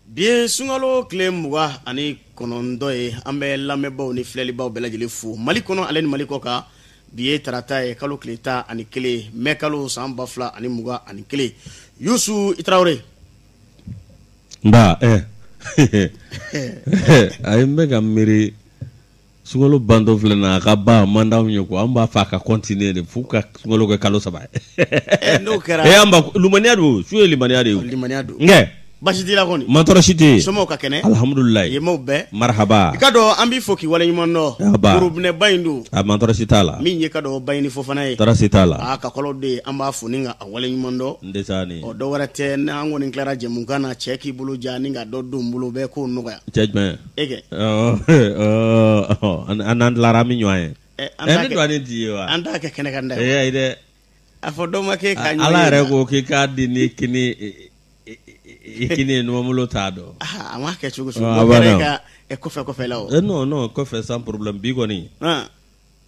bi ye sunkalo tile mugan ani kɔnɔntɔn ye an bɛ lamɛnbaaw ni filɛlibaw bɛɛ lajɛlen fo mali kɔnɔ ale ni mali kɔkan bi ye tarata ye kalo tile tan ani kelen mɛ kalo san ba fila ani mugan ani kelen yusu i tarawele nba ɛ eh. ayi n bɛ ka miiri sunkalo bantɔ filɛ na a ka ban man d'anw ye ko an b'a fɛ a ka continuer de f'u ka sunkalo kɛ kalo saba ye eh, n'o kɛra eh, an b'a limaniya dɔn sun ye limaniya de ye limaniya don kɛ baasi t'i la kɔni mantɔɔrɔ si tɛ yen somɔgɔw ka kɛnɛ alihamudulilayi yemaw bɛɛ marahaba i k'a dɔn an b'i fo k'i waleɲuman dɔn worobinɛba in dun a mantɔɔrɔ si t'a la min ye i k'a dɔn bayini fofana ye tɔɔrɔ si t'a la a ka kɔlɔ de ye an b'a fo ni ka a waleɲuman dɔn n tɛ taa ni ɔ dɔ wɛrɛ tɛ n'an kɔni tilara jɛmukan na cɛ k'i bolo ja ni ka dɔ don n bolo bɛɛ k'o nɔgɔya cɛ jumɛn e kɛ a n'an tilara an bɛ ɲɔgɔn ye ne dɔgɔnin tɛ wa an t'a kɛ kɛnɛ kan dɛ a fɔ dɔw ma kɛ ka ala yɛrɛ ko k'i k'a di ni kini ye numanbolo t'a dɔn a ma kɛ cogo kɔfɛ kɔfɛ la non kɔfɛ sans problème bi kɔni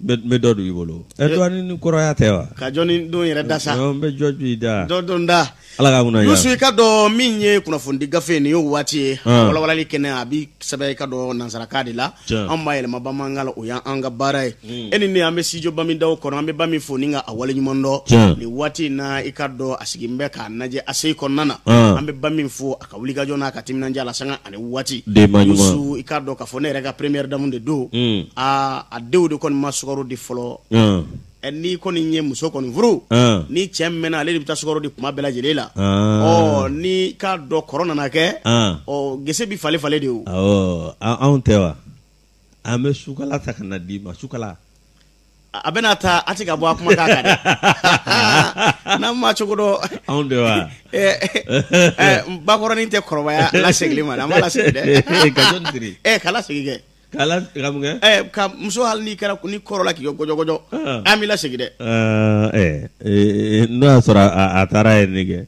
bɛ dɔ don i bolo ɛ dɔgɔ ni kɔrɔya tɛ wa ka jɔn don yɛrɛ da sa bɛ jɔ i da dɔn da ala k'an kunnadiya yusu i k'a dɔn min ye kunnafonidi gafe nin ye waati ye walawalali kɛnɛ a bɛ sɛbɛn i k'a dɔn nansarakan de la an b'a yɛlɛma bamanankan na o ye an ka baara ye e ni an bɛ studio bami daw kɔnɔ an bɛ bami fo ni ka a waleɲuman dɔn nin waati in na i k'a dɔn a sigilen bɛ k'an lajɛ a se kɔnɔna na an bɛ bami fo ka wulikajɔ n'a ka timinandiya la sanga ani waati yusu i k'a dɔn k'a fɔ ne yɛrɛ ka première dame de don mm. aa a denw de kɔni ma sukaro di fɔlɔ mm. n'i kɔni ye muso kɔni furu mm. ni cɛ mɛnna ale de bɛ taa sukaro di kuma bɛɛ lajɛlen la ɔ n'i k'a dɔn kɔrɔ nana kɛ ɔ gese bɛ falen-falen de wo anw tɛ wa an bɛ sukala ta ka na d'i ma sukala a bɛna taa a tɛ ka bɔ a kuma k'a kan dɛ n'an ma cogo dɔn anw de wa bakɔrɔnin tɛ kɔrɔbaya lasegili ma an b'a lasegin dɛ ka jɔn siri ɛ ka lasegin kɛ ka la ka mun kɛ ɛ ka muso hali n'i kɛra ni kɔrɔla k'i kɛ gɔjɔgɔjɔ an b'i lasegin dɛ ɛ n'o y'a sɔrɔ a taara yen ne kɛ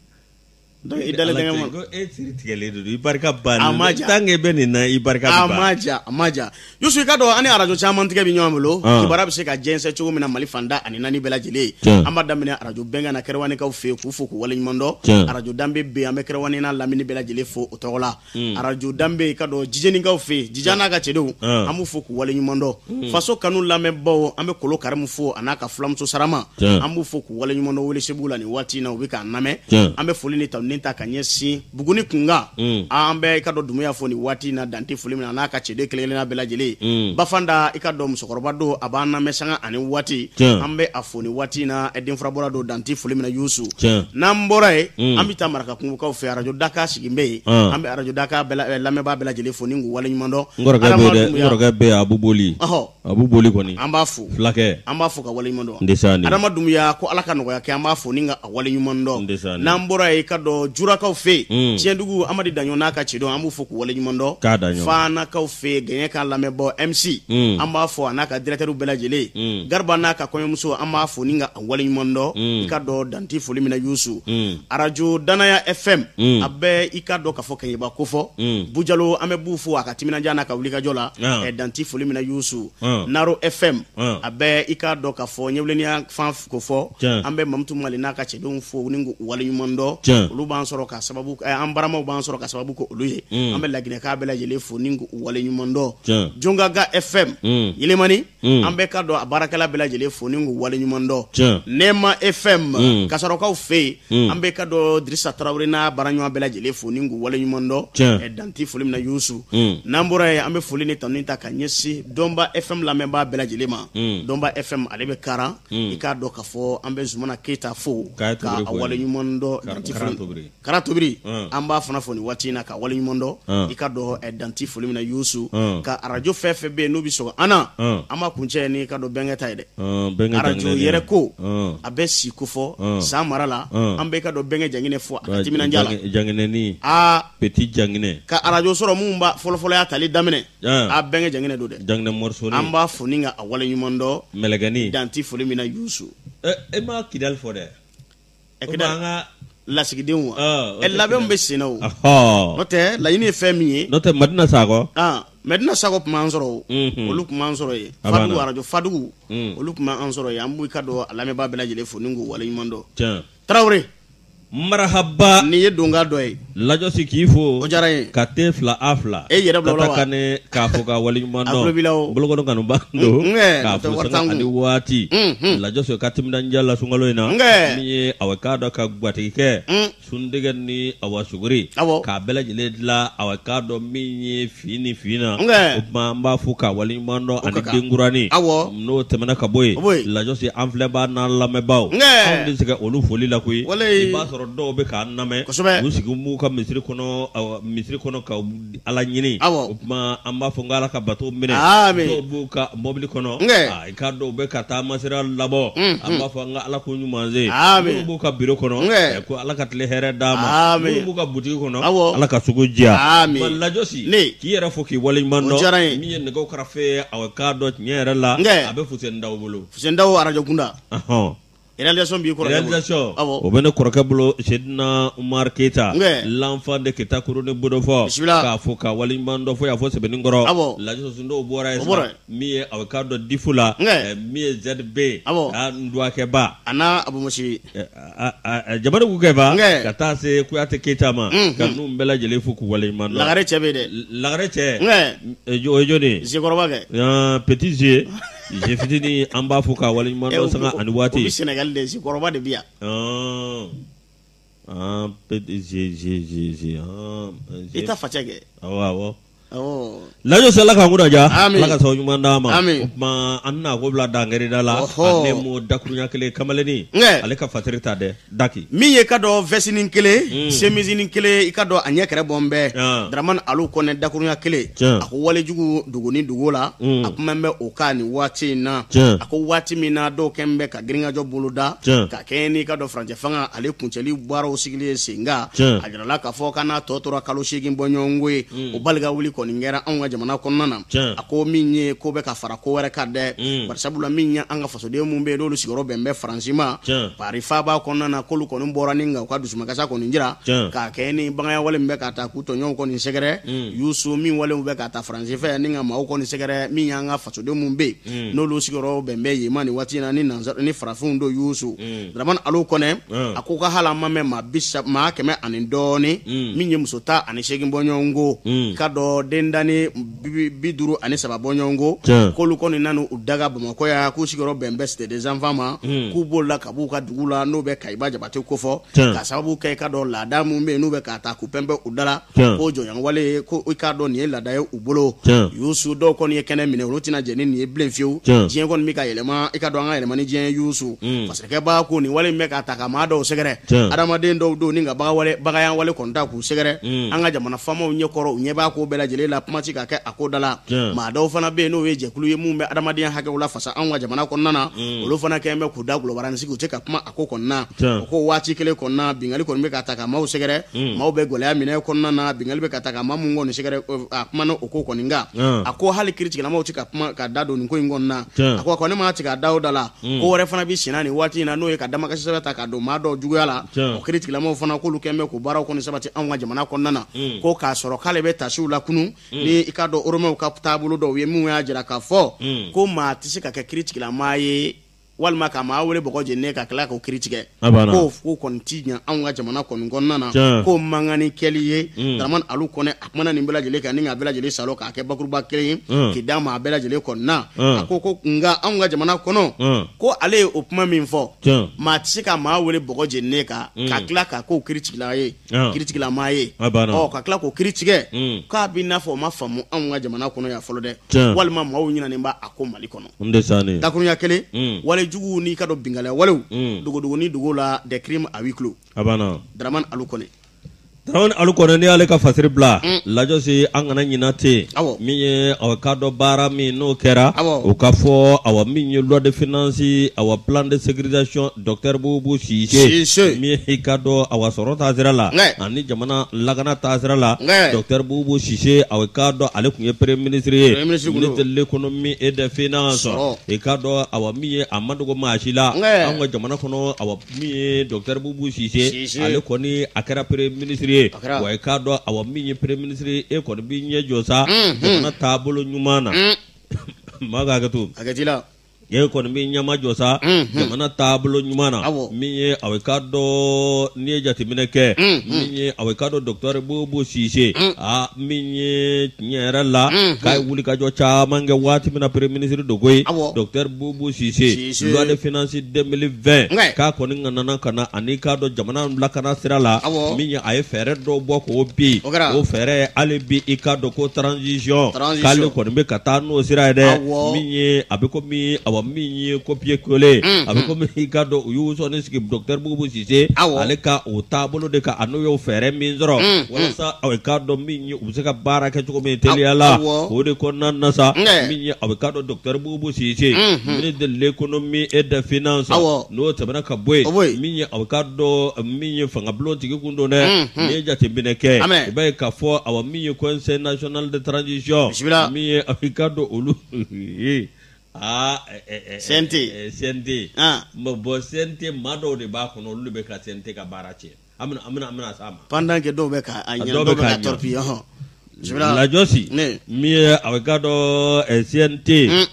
Donc i dalen tɛ n ka mɔn ko e siri tigɛlen de don i barika bannen a ma ja tant que bɛ nin na i barika bɛ ban a ma ja a ma ja Youssou i k'a dɔn an ni arajo caman tigɛ bɛ ɲɔgɔn bolo ah. kibaruya bɛ se ka jɛnsɛn cogo min na Mali fan tan ani naani bɛɛ lajɛlen an b'a daminɛ arajo bɛnkan na kɛrɛwanikaw fɛ yen k'u fo k'u waleɲumandɔn arajo danbe bɛ yen an bɛ kɛrɛwani n'a lamini bɛɛ lajɛlen fo o tɔgɔ la Mm. arajo danbe i k'a dɔn jijɛninkaw fɛ yen jija n'a ka cɛdenw mm. an b'u fo k'u waleɲumandɔn mm. faso kanu lamɛnbaaw an bɛ kolo karimu fo a n'a ka filamuso sarama an b'u fo k'u waleɲumandɔn welesebugu la nin waati in na u bɛ k'an lamɛn an bɛ foli ni tanuni ta ka ɲɛsin buguni kunkan an bɛ i k'a dɔn dumuya fo nin waati in na dan tɛ foli min na a n'a ka cɛden kelen-kelenna bɛɛ lajɛlen ba fanta i k'a dɔn musokɔrɔba don a b'an lamɛn sanga ani waati an bɛ a fo nin waati in na denfurabɔla don dan tɛ foli min na yusu n'an bɔra yen an bɛ taa maraka kungokaw fɛ arajo daka sigi bɛ yen an bɛ arajo daka lamɛnbaa bɛɛ lajɛlen fo ni k'u waleɲumandɔn abu boli a bɛ boli kɔni an b'a fo fulakɛ an b'a fo k'a waleɲumandɔn adama dunbuya ko ala ka nɔgɔya kɛ an b'a fo ni k'a waleɲumandɔn n'an bɔra yen i k'a dɔn jurakaw fɛ yen cɛndugu amadu daɲɔ n'a ka cɛdenw an b'u fo k'u waleɲumandɔn k'a da fanakaw fɛ gɛɲɛka lamɛnbaa MC an b'a fo a n'a ka dirɛkitɛri bɛɛ lajɛlen gariba n'a ka kɔɲɔmuso an b'a fo waleɲuman dɔn mm. i k'a dɔn dan tɛ foli min na yusu mm. arajo danaya fm mm. a bɛ i k'a dɔn k'a fɔ kɛɲɛba kofɔ mm. bu jalo an bɛ bu fo a ka timinanja n'a ka wulikajɔ la ah. eh, dan tɛ foli min na yusu ah. naro fm ah. a bɛ i k'a dɔn k'a fɔ ɲɛwuleniya fan kofɔ an bɛ mamutu mali n'a ka cɛdenw fo ni k'u waleɲuman dɔn olu b'an sɔrɔ ka sababu eh, an balimaw b'an sɔrɔ ka sababu k'olu ye mm. an bɛ laginɛkaw bɛɛ lajɛlen fo ni k'u waleɲuman dɔn jongaga fm mm. yelimani Mm. an bɛ i k'a dɔn a baarakɛla bɛɛ lajɛlen fo ni k'u waleɲuman dɔn nɛɛma fm mm. kasarokaw fɛ yen mm. an bɛ i k'a dɔn dirisa tarawele n'a baaraɲɔgɔn bɛɛ lajɛlen fo ni k'u waleɲuman dɔn dan tɛ foli min na yusu n'an bɔra yen an bɛ foli ni tanuni ta ka ɲɛsin dɔnba fm lamɛnbaa bɛɛ lajɛlen ma dɔnba fm ale bɛ karan i k'a dɔn k'a fɔ an bɛ zumana keyita fo k'a waleɲuman dɔn dan tɛ foli kara tobiri mm. an b'a fana fo nin waati in na k'a waleɲuman dɔn mm. i k'a dɔn eh, dan tɛ foli min na yusu mm. ka arajo fɛn fɛn bɛ yen n'u bɛ sɔgɔ an na an b'a kuncɛ ni i k'a dɔn bɛnkɛ ta ye dɛ arajo yɛrɛko a bɛ si kofɔ san mara la an bɛ i k'a dɔn bɛnkɛ janginɛ fo a ka timinanja la janginɛni aa peti janginɛ ka arajo sɔrɔ minnu b'a fɔlɔfɔlɔ y'a tali daminɛ a bɛnkɛ janginɛ don dɛ janginɛ mɔrisoni an b'a fo ni k'a waleɲuman dɔn mɛlɛkɛni dan tɛ foli min na yusu eh, e ma kidali fɔ dɛ ɛ kidali ka lasigidenw wa Ɔ, o labɛnw bɛ sen na o Ɔhɔ. n'o tɛ laɲini ye fɛn min ye n'o tɛ madina sakɔ ah mɛdina sakɔ tun b'an sɔrɔ o Mhm. olu tun b'an sɔrɔ yen A b'a fadugu na. arajo fadugu Mm. olu tun b'an sɔrɔ yen an b'i k'a dɔn a lamɛnbaa bɛɛ lajɛlen fo ni k'u waleɲuman dɔn Tiɲɛ. tarawele marahaba nin ye donkan dɔ ye lajɔsi k'i fo o diyara n ye ka te fila a fila e yɛrɛ bila kane k'a fo k'a waleɲuman dɔn bolokɔnɔ kanuba don k'a fɔ sanga ani waati lajɔsi ka timinandiya la sunkalo in na min ye aw k'a dɔn ka gatigi kɛ suntigɛ ni awa suguri k'a bɛɛ lajɛlen dilan aw k'a dɔn min ye fi ni fi na o tuma an b'a fo k'a waleɲuman dɔn ani denkurani n'o tɛmɛna ka bɔ yen lajɔsi an filɛbaa n'an lamɛnbaaw anw tɛ se olu foli la koyi i b'a sɔrɔ dɔw bɛ k'an lamɛn kosɛbɛ u sigi b'u ka misiri kɔnɔ misiri kɔnɔ ka ala ɲini o tuma an b'a fɔ n ko ala ka bato minɛ dɔw b'u ka mɔbili kɔnɔ i ka dɔw bɛ ka taama sira labɔ an b'a fɔ n ko ala k'u ɲuman se minnu b'u ka biro kɔnɔ ko ala ka tile hɛrɛ d'u ma minnu b'u ka butigi kɔnɔ ala ka sugu diya lajɔsi k'i yɛrɛ fo k'i waleɲuman dɔn min ye nɛgɛ karafe aw k'a dɔn tiɲɛ yɛrɛ la a bɛ fuseni dawo bolo fuseni dawo arajo kunda Réalisation b'i kɔrɔkɛ bolo, réalisation awɔ, o bɛ ne kɔrɔkɛ bolo Seydina Umaru Keyita Nbɛ, l'enfant de Kita kuru ni Bodofɔ, bisimila, k'a fo k'a waleɲuman dɔn fo yan fo Sebenikɔrɔ, awɔ, Lajinɛsondo bɔra yen, o bɔra yen, min ye a bɛ k'a dɔn Difu la, nbɛ, min ye ZB, awɔ, a Nduwakɛba, a n'a Abumusiri, a a a Jabate Kukɛba, nbɛ, ka taa se Kuyate Keyita ma, unhun, ka ninnu bɛɛ lajɛlen fo k'u waleɲuman dɔn, Lagare cɛ bɛ yen dɛ, Lagare cɛ, nbɛ, o ye jɔni ye? Zekɔrɔba kɛ, ɔɔ petit ze Jefitinin an b'a fo k'a waleɲuman dɔn sanga ani waati Sénégal Zekɔrɔba de bi yan i ta facɛ kɛ lajɛ ala k'an kunna diya ala ka sababu ɲuman d'a ma an bɛna ko bila dangɛrɛda la ne mɔ dakurunya kelen kamalennin ale ka fatiri ta dɛ daki min ye k'a dɔn vɛsinin kelen mm. semisinin kelen i k'a dɔn a ɲɛ kɛrɛ bɔn bɛɛ yeah. dramani alu kɔnɛ dakurunya kelen yeah. a ko walejugu dugu ni dugu la mm. a kuma bɛ o kan nin waati in na yeah. a ko waati min na dɔw kɛn bɛ ka girinkajɔ boloda yeah. ka kɛɲɛ n'i k'a dɔn furancɛ fanga ale kuncɛli baaraw sigili ye sen kan yeah. a jirala k'a fɔ k'a n'a tɔ tora kalo seegin bɔɲɔgɔnko ye mm. o balikawuli kɔni kɛra anw ka jamana kɔnɔna na yeah. a ko min ye ko bɛ ka fara ko wɛrɛ kan dɛ mm. bari sabula min ye an ka fasoden minnu bɛ yen n'olu sigiyɔrɔ bɛn bɛ faransi ma pari faaba kɔnɔna na k'olu kɔni bɔra ni ka u ka dusumakasi kɔni jira k'a kɛ ni baganya wale min bɛ ka taa k'u tɔɲɔgɔnw kɔni sɛgɛrɛ mm. yusu nin walew bɛ ka taa faransi fɛ ni ka maaw kɔni sɛgɛrɛ min y'an ka fasoden minnu bɛ yen mm. n'olu sigiyɔrɔ bɛn bɛ yen ma nin waati in na ni nansara ni farafinw don yusu dramani alu kɔnɛ a ko ka hali a ma mɛn maa bi maa kɛmɛ ani dɔɔni min ye muso tan ani seegin bɔɲɔgɔnko k'a dɔn den dani bi duuru ani saba bɔɲɔgɔnko k'olu kɔni nana u daga bamakɔ yan k'u sigiyɔrɔ bɛn bɛ Cité des Enfants ma hmm. k'u b'o la ka b'u ka dugu la n'o bɛ kaba jabate kofɔ ka sababu kɛ i k'a dɔn laada minnu bɛ yen n'u bɛ ka taa k'u pɛnpɛ u da la k'o jɔnɲɔgɔnwale ye ko i k'a dɔn nin ye laada ye u bolo yusu dɔw kɔni ye kɛnɛ minɛ olu tɛna jɛn ni nin ye bilen fiyewu diɲɛ kɔni bɛ ka yɛlɛma i k'a dɔn an ka yɛlɛma ni diɲɛ yusu hmm. masakɛba ko nin wale bɛ ka taa ka maa dɔw sɛgɛrɛ adamaden dɔw don ni ka bagawale bagayawale kɔni ta u sɛgɛrɛ mm. an ka jamana faamaw ɲɛkɔrɔ u ɲɛ b'a ko bɛɛ lajɛlen la kuma tɛ ka kɛ a ko da la maa dɔw fana bɛ yen n'o ye jɛkulu ye minnu bɛ adamadenya hakɛw lafasa anw ka jamana kɔnɔna na mm. olu fana kɛlen bɛ k'u dagolo barani sigi u tɛ ka kuma a ko kɔnɔna o ko waati kelen kɔnɔna binkanni kɔni bɛ ka taa ka maaw sɛgɛrɛ mm. maaw bɛ gɛlɛya min kɔnɔna na binkanni bɛ ka taa ka maa minnu kɔni sɛgɛrɛ a kuma na o ko kɔni kan a ko hali kiritigɛlamaw tɛ ka kuma k'u da don nin ko in kɔnɔna a ko a ko ne ma tigɛ a da o da la Mm. ko wɛrɛ fana bɛ senna nin waati in na n'o ye ka damakasisɛbɛn ta ka don maa dɔw juguya la o kiritigɛlamaw fana k'olu kɛn bɛ k'u baaraw kɔni sabati anw ka jamana kɔnɔna na mm. ko k'a sɔrɔ k'ale bɛ taasi o la kunun mm. ni i k'a dɔn oromɛw ka taabolo dɔw ye minnu y'a jira k'a fɔ ko maa tɛ se ka kɛ kiritigɛlama ye walima ka maa wele bɔgɔ jeni ka tila k'o kiri tigɛ k'o k'o kɔni ti ɲɛ anw ka jamana kɔni kɔnɔna na k'o mankani kɛli ye Daramani Alu Kɔnɛ kumana nin bɛɛ lajɛlen kan ni k'a bɛɛ lajɛlen salo k'a kɛ bakuruba kelen ye mm. k'i d'a ma a bɛɛ lajɛlen kɔnɔna mm. a ko ko nka anw ka jamana kɔnɔ mm. ko ale ye o kuma min fɔ maa tɛ se ka maa wele bɔgɔ jeninen kan ka tila k'a k'o kiritigɛla ye kiritigɛlamaa ye ɔ ka tila k'o kiri tigɛ k'a b'i n'a fɔ o ma faamu anw ka jamana kɔnɔ yan fɔlɔ dɛ walima maaw ɲinɛnen b'a kɔ Mali kɔnɔ dakuruɲa kelen wale juguw n'i k'a dɔn binkalɛya walew dogodogonin dogo la des crimes à huis clos A banna Daramani Alu Kɔnɛ. Daramani Alu Kɔnɛ n'i y'ale ka fasiri bila. Un! Lajɔsi an kana ɲina tɛ. Awɔ. Min ye awa i k'a dɔn baara min n'o kɛra. Awɔ. O ka fɔ awa min ye loi de finance awa plan de sécurisation docteur Bubu Sise. Sise. Min ye i k'a dɔn awa sɔrɔ taasira la. Wɛ! Ani jamana lakana taasira la. Wɛ! Docteur Bubu Sise awa i k'a dɔn ale tun ye premier ministre ye. Premier ministre tun don. Ministre de l'économie et des finances. Sɔrɔ. I k'a dɔn awa min ye a ma dogo maa si la. Wɛ! Anw ka jamana kɔnɔ awa Min ye docteur Boubou Cisse ye, ale kɔni a kɛra premier ministre ye, wa i k'a dɔn awa min ye premier ministre ye e kɔni b'i ɲɛ jɔ sa jamana taabolo ɲuman na, maa ka hakɛ to, hakɛ t'i la, e kɔni b'i ɲɛmajɔ sa jamana taabolo ɲuman na, awɔ, min ye awa i k'a dɔn n'i ye jateminɛ kɛ min ye awa i k'a dɔn docteur Boubou Cisse aa min ye tiɲɛ yɛrɛ la k'a ye wulikajɔ caman kɛ waati min na premier ministre don koyi, awɔ, docteur Boubou Cisse loi de finance 2020 k'a kɔni ŋanana ka na ani k'a dɔn jamana lakana sira la min ye a ye fɛɛrɛ dɔw bɔ k'o bi o fɛɛrɛ hali bi i k'a dɔn ko transition k'ale kɔni bɛ ka taa n'o sira ye dɛ min ye a bɛ komi awa min ye copier coller a bɛ komi i k'a dɔn u y'u sɔnin sigi docteur Bubu Sise ale ka o taabolo de kan an'u y'o fɛɛrɛ min sɔrɔ walasa aw k'a dɔn min ye u bɛ se ka baara kɛ cogo min teliya la o de kɔnɔna na sa min ye awa i k'a dɔn docteur Bubu Bubu Sise Unhun. ministre de l'économie et des finances Awɔ. n'o tɛmɛna ka bɔ yen O bɔ yen. min ye aw k'a dɔn min ye fangabulon tigi kun don dɛ Unhun. n'i ye jateminɛ kɛ Amɛ. i b'a ye k'a fɔ awa min ye conseil national de transition Bisimila. min ye aw k'a dɔn olu ye aa ɛ, ɛ, ɛ, CNT. ɛ, CNT Ah. Bon, bon CNT maa dɔw de b'a kɔnɔ olu de bɛ ka CNT ka baara tiɲɛ pendant que dɔw bɛ Lajɔsi min ye awa i k'a dɔn CNT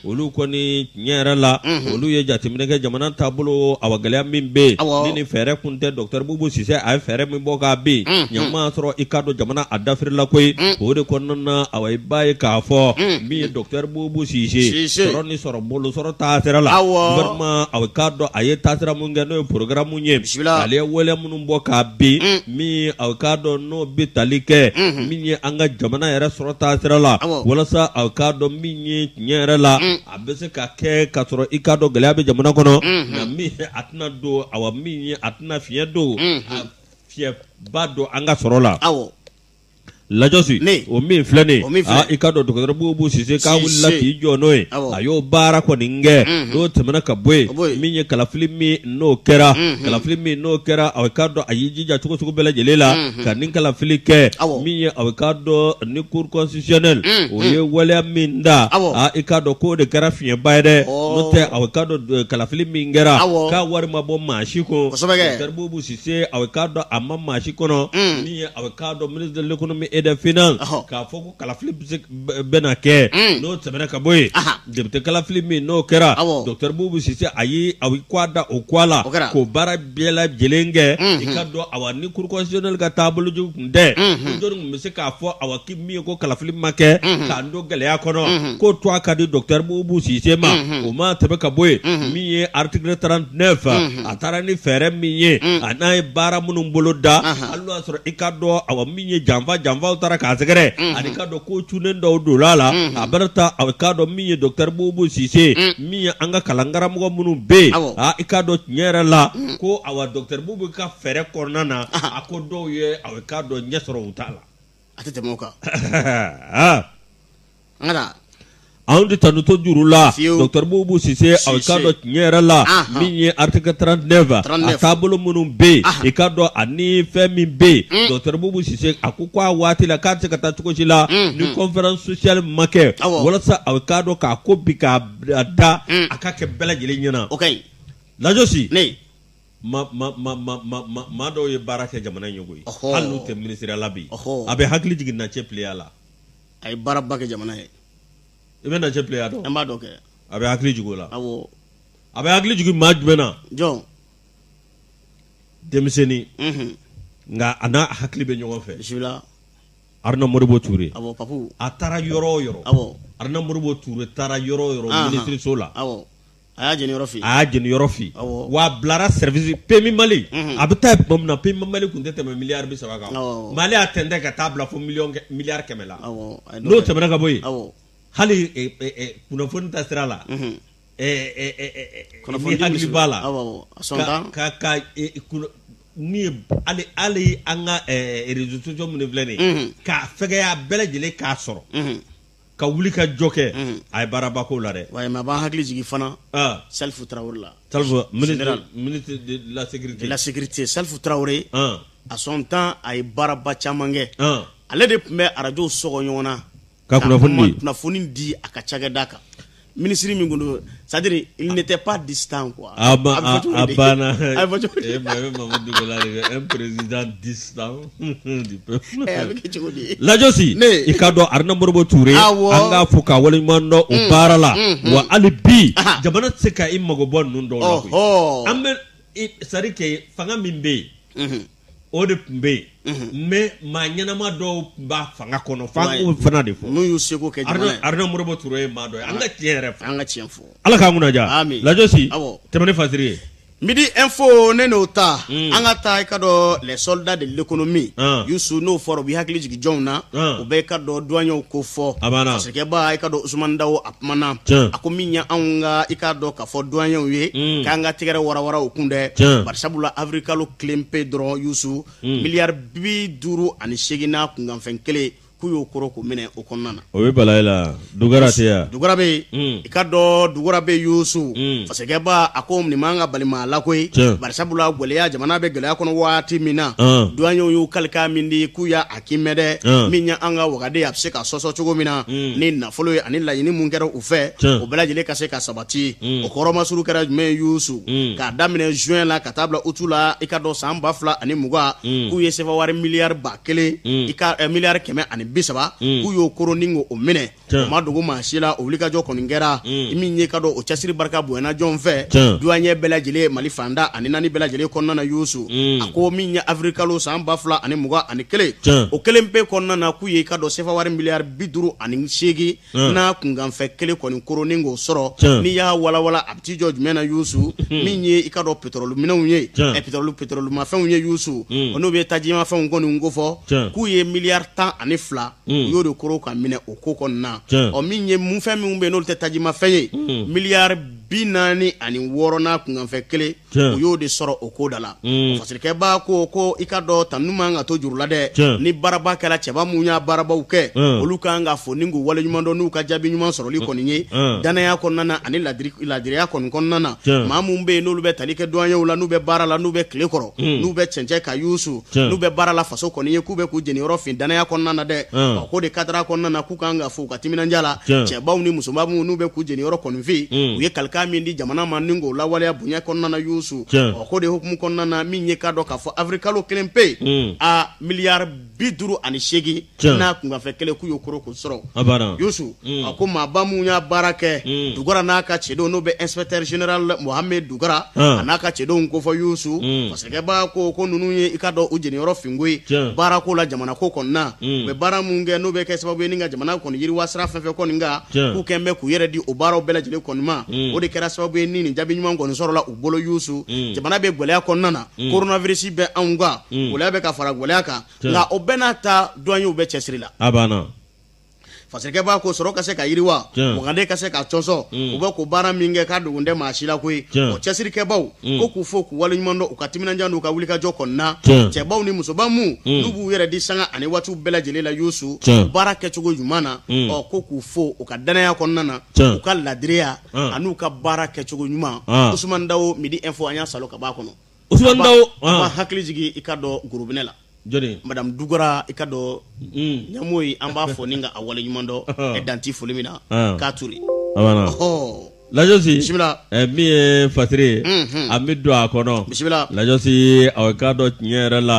olu kɔni tiɲɛ yɛrɛ la olu ye jateminɛ kɛ jamana taabolo awa gɛlɛya min bɛ yen ni fɛɛrɛ kun tɛ docteur Bubu Sise a ye fɛɛrɛ min bɔ k'a bin ni a ma sɔrɔ i k'a dɔn jamana a dafirila koyi o de kɔnɔna na awa i b'a ye k'a fɔ min ye docteur Bubu Sise sɔrɔ ni sɔrɔ bolo sɔrɔ taasira la awa i k'a dɔn a ye taasira min kɛ n'o ye programme ye ale wale minnu bɔ k'a bin mm. min ye a k'a dɔn n'o bɛ tali kɛ mm-hmm. min ye an ka jamana yɛrɛ sɔrɔ taasira la walasa a k'a dɔn min ye tiɲɛ yɛrɛ la mm. a bɛ se ka kɛ ka sɔrɔ i k'a dɔn gɛlɛya bɛ jamana kɔnɔ mm-hmm. nka min ye a tɛna don awa min ye a tɛna fiɲɛ don mm-hmm. a fiɲɛba don an ka sɔrɔ la lajɔsi Ne. o min filɛ nin O min ye filɛ. aa i k'a dɔn docteur Boubou Sise k'a Sise. wulila k'i jɔ n'o ye Awɔ. a y'o baara kɔni kɛ Mhm. n'o tɛmɛna ka bɔ yen Ka bɔ yen. min ye kalafili min n'o kɛra Mhm. kalafili min n'o kɛra a k'a dɔn a y'i jija cogo sugu bɛɛ lajɛlen la Mhm. ka nin kalafili kɛ Awɔ. min ye a k'a dɔn ni cour constitutionnelle Mhm. o ye waleya min da Awɔ. aa i k'a dɔn k'o de kɛra fiɲɛba ye dɛ Ɔɔ. n'o tɛ a k'a dɔn eh, kalafili min kɛra Awɔ. k'a wari ma bɔ maa si kun Kosɛbɛ kɛ. docteur Boubou Sise a k'a dɔn a ma maa si kɔnɔ Mhm. ye aw k'a dɔn ministre de l'économie et des finances ɔhɔ. k'a fɔ ko kalafili bɛ se bɛ- bɛna kɛ Mm. n'o tɛmɛna ka bɔ yen Aha. député kalafili min n'o kɛra Awɔ. docteur Boubou Sise a ye a ye k'a da o k'a la O kɛra. k'o baara bɛɛ lajɛlen kɛ i Mhm. k'a dɔn awa ni cour constitutionnelle ka taabolo jugu tun tɛ Mhm. ko jɔni tun bɛ se k'a fɔ awa k'i min ye ko kalafili ma kɛ k'an don gɛlɛya kɔnɔ k'o to a ka di docteur Boubou Sise ma o ma tɛmɛ ka bɔ yen min ye article 39 a taara ni fɛɛrɛ min ye an'a ye baara minnu bolo da a la o y'a sɔrɔ i k'a dɔn awa min ye janfa janfaw taara k'a sɛgɛrɛ ani i k'a dɔn ko cunnen dɔw donna a la a bɛɛ n'a ta a k'a dɔn min ye docteur Boubou Sise min ye an ka kalankaramɔgɔ minnu bɛ yen aa i k'a dɔn tiɲɛ yɛrɛ la ko awa docteur Boubou ka fɛɛrɛ kɔnɔna na a ko dɔw ye a k'a dɔn ɲɛ sɔrɔ u ta la a tɛ tɛmɛ o kan Ah, nka anw tɛ tanu to juru la Fiyewu. docteur Boubou Sise a Sise. k'a dɔn tiɲɛ yɛrɛ la Ahan. min ye article 39 a 39. taabolo minnu bɛ yen Ahan. i k'a dɔn ani fɛn min bɛ yen Mm. docteur Boubou Sise a ko ko a waati la k'a tɛ se ka taa cogo si la Mm, ni mm. conférence sociale ma kɛ Awɔ. walasa a k'a dɔn k'a ko bi k'a a da Mm. a ka kɛ bɛɛ lajɛlen ɲɛna o ka ɲi lajosi ne maa dɔw ye baara kɛ jamana ɲɛ koyi hali n'u tɛ minisiri la bi a bɛ hakili jigin Nacɛ Pleya la a ye baaraba kɛ jamana ye i bɛ Nacɛ Pleya dɔn n b'a dɔn kɛ a bɛ hakili jigin o la a bɛ hakili jigin maa jumɛn na jɔn denmisɛnnin nka a n'a hakili bɛ ɲɔgɔn fɛ Aruna Modibo Ture a taara yɔrɔ o yɔrɔ Aruna Modibo Ture taara yɔrɔ o yɔrɔ minisiriso la a y'a jeni yɔrɔ fin. a y'a jeni yɔrɔ fin. awɔ wa a bilara service PMU Mali. a bɛ taa tuma min na PMU Mali tun tɛ tɛmɛ miliyari bi saba kan. awɔ mais ale y'a tɛntɛn ka t'a bila fo miliyɔn kɛ miliyari kɛmɛ la. awɔ a ye dɔ n'o kɛ. tɛmɛna ka bɔ yen. awɔ hali eh, eh, eh, kunnafoni taasira la. Mhm. eh, eh, eh, eh, eh, kunnafoni n'i hakili b'a la. awɔ awɔ à son temps ka ka eh, kunna- min ye hali hali an ka eh, réseaux sociaux minnu filɛ nin ye. Mhm. k'a fɛgɛya bɛɛ lajɛlen k'a sɔrɔ. Mhm. ka wuli ka jɔ kɛ mm. a ye baaraba ko la dɛ a bɛ n hakili jigin fana ah. Salifu Tarawele la ministre de la sécurité Salifu Tarawele ah. à son temps a ye baaraba caman kɛ ah. ale de tun bɛ arajow sɔgɔ ɲɔgɔn na ka kunnafoni di a ka cakɛda kan minisiri min tun don c'est-à-dire il n'était pas distant quoi. a ah, ba ah, ah, a banna a bɛ fɔ cogo di. e ma ye Mamadu Dugula de bɛ un président distant du peuple. ɛ a bɛ kɛ cogo di. Lajosi i ka dɔn Aruna Modibo Ture an k'a fo k'a waleɲuman dɔn o mm, baara la mm, mm. wa hali bi jamana tɛ se ka i mago bɔ ninnu dɔw la koyi an bɛ sari kɛ fanga min bɛ yen. Mm-hmm. o de tun bɛ yen mɛ maa ɲɛnama dɔw tun b'a fanga kɔnɔ f'an k'o fana de fɔ n'u y'u seko kɛ aruna modibo ture ye maa dɔn an ka tiɲɛ yɛrɛ an ka tiɲɛ fɔ ala k'an kunnaja lajosi tɛmɛnen fasiri ye midi info ne n'o ta mm. an ka taa i ka dɔn les soldats de l'économie ah. yusu n'o fɔra o b'i hakili jigin jɔnw na ah. u bɛ ka dɔn duwanyew ko fɔ fasirikɛba i ka dɔn usumani dawo a kumana a ko min ye anw ka i ka dɔn ka fɔ duwanyew ye mm. k'an ka tɛgɛrɛ warawara u kun dɛ barisabula awirilikalo kelen pe dɔrɔn yusu hmm. miliyari bi duuru ani seegin n'a kunkanfɛn kelen k'u y'o koron k'o minɛ o kɔnɔna na o bɛ bala i la dugara tɛ yan dugara bɛ yen hmm. i ka dɔn dugara bɛ yusu hmm. fasirikɛba a ko nin man ka bali maa la koyi barisabula gɛlɛya jamana bɛ gɛlɛya kɔnɔ waati min na duwanyew y'u kalikan min di k'u y'a kiimɛ dɛ Tiɲɛ. min ye an ka wagande a bɛ se ka sɔsɔ cogo min na Mm. ni nafolo ye ani laɲini mun kɛra u fɛ Tiɲɛ. o bɛɛ lajɛlen ka se ka sabati Mm. o kɔrɔmasuru kɛra jumɛn ye yusu Mm. k'a daminɛ juin la ka taa bila utu la i ka dɔn san ba fila ani mugan Mm. k'u ye sɛfawari miliyari ba kelen Mm. i ka eh, miliyari kɛmɛ ani bi saba Mm. k'u y'o koron ni k'o o minɛ Tiɲɛ. u ma dogo maa si la o wulikajɔ kɔni kɛra Mm. i min ye ka dɔn o cɛsiri barika bonyana jɔn fɛ Tiɲɛ. duwanyew bɛɛ lajɛlen mali fan tan ani naani bɛɛ lajɛlen kɔnɔna na yusu Mm. a ko min ye awirilikalo san ba fila ani mugan ani kelen Tiɲɛ. o kelen pe kɔnɔna na k'u ye i ka dɔn sefawari miliyari bi duuru ani seegin Mm. n'a kunkanfɛn kelen kɔni koron ni k'o sɔrɔ Tiɲɛ. n'i y'a walawala a bɛ t'i jɔ jumɛn na yusu min ye i ka dɔn petrɔli minɛnw ye Tiɲɛ. ɛ, petrɔli petrɔlimafɛnw ye yusu Mm. o n'u bɛ tajimafɛnw kɔni ko fɔ Tiɲɛ. k'u ye miliyari tan ani fila Mm. u y'o de koron k'a minɛ o ko kɔnɔna ɔ min ye mun fɛn minnu bɛ yen n'olu tɛ tajimafɛn ye mm. miliyari bi naani ani wɔɔrɔ n'a kunkanfɛn kelen u y'o de sɔrɔ o ko da la mm. fasirikɛba ko ko i ka dɔn tanu man ka to juru la dɛ ni baaraba kɛra cɛba minnu y'a baarabaw kɛ olu kan ka fo ni k'u wale ɲuman dɔn n'u ka jaabi ɲuman sɔrɔli kɔni ye danaya kɔnɔna na ani laadiriya kɔni kɔnɔna na maa minnu bɛ yen n'olu bɛ tali kɛ duwanyew la n'u bɛ baara la n'u bɛ tile kɔrɔ n'u bɛ cɛncɛn kan yusu Tiɲɛ. n'u bɛ baara la faso kɔni ye k'u bɛ k'u jeniyɔrɔ fin danaya kɔnɔna na dɛ Tiɲɛ. Ɔ, k'o de kadara kɔnɔna na k'u kan ka fo u ka timinanja la Tiɲɛ. cɛbaw ni musobaw minnu n'u bɛ k'u jeniyɔrɔ kɔni fin Mm. u ye kalikan min di jamana ma ni k'o lawaleya bonya kɔnɔna na yusu Tiɲɛ. Ɔ, k'o de hukumu kɔnɔna na min ye k'a dɔn k'a fɔ awirilikalo kelen pe Mm. a miliyari bi duuru ani seegin Tiɲɛ. n'a kunkanfɛn kelen k'u y'o koro k'o sɔrɔ A banna. Youssou Mm. a ko maaba minnu y'a baara kɛ Mm. Dugara n'a ka cɛdenw n'o bɛ inspecteur général Mohamed Dugara Ah. a n'a ka cɛdenw k'u fo Youssou Mm. parce que b'a ko ko ninnu ye i k'a dɔn u jeniyɔrɔ fin koyi Tiɲɛ. baara ko la jamana ko kɔni na Mm. u bɛ baara minnu kɛ n'o bɛ kɛ sababu ye ni ka jamana kɔni yiriwa sira fɛn fɛn kɔni kan Tiɲɛ. k'u kɛn bɛ k'u yɛrɛ di o baaraw bɛɛ lajɛlen kɔni ma Mm. o de kɛra sababu ye ni nin jaabi ɲuman kɔni sɔrɔla u bolo Youssou Mm. jamana bɛ gɛlɛya kɔnɔna na Mm. coronavirus bɛ anw kan Mm. gɛlɛya bɛ ka fara gɛlɛya kan nka o bɛɛ n'a ta duwaniyew bɛ cɛsiri la a banna fasikɛ b'a ko sɔrɔ ka se ka yiriwa muganden ka se ka cɔsɔ mm. u bɛ ko baara min kɛ k'a dogon tɛ maa si la koyi o cɛsirikɛbaw mm. ko k'u fo k'u waleɲuman dɔn u ka timinandiya n'u ka wulikajɔ kɔnɔna cɛbaw ni musoba minnu mm. b'u yɛrɛ di sanga ani waatiw bɛɛ lajɛlen la yusu baara kɛcogo ɲuman na ɔ ko k'u fo u ka danaya kɔnɔna na u ka laadiriya an'u ka baara kɛcogo ɲuman usumani dawo midi info an y'a salo ka b'a kɔnɔ b'a hakili jigin i k'a dɔn gurubɛ la joni madamu dugara i k'a dɔn ɲamoyi an b'a fo ni k'a waleɲuman dɔn dan tɛ foli min na k'a to lajsi min ye fasari an bɛ don a kɔnɔ bisimila lajsi a k'a dɔn tiɲɛ yɛrɛ la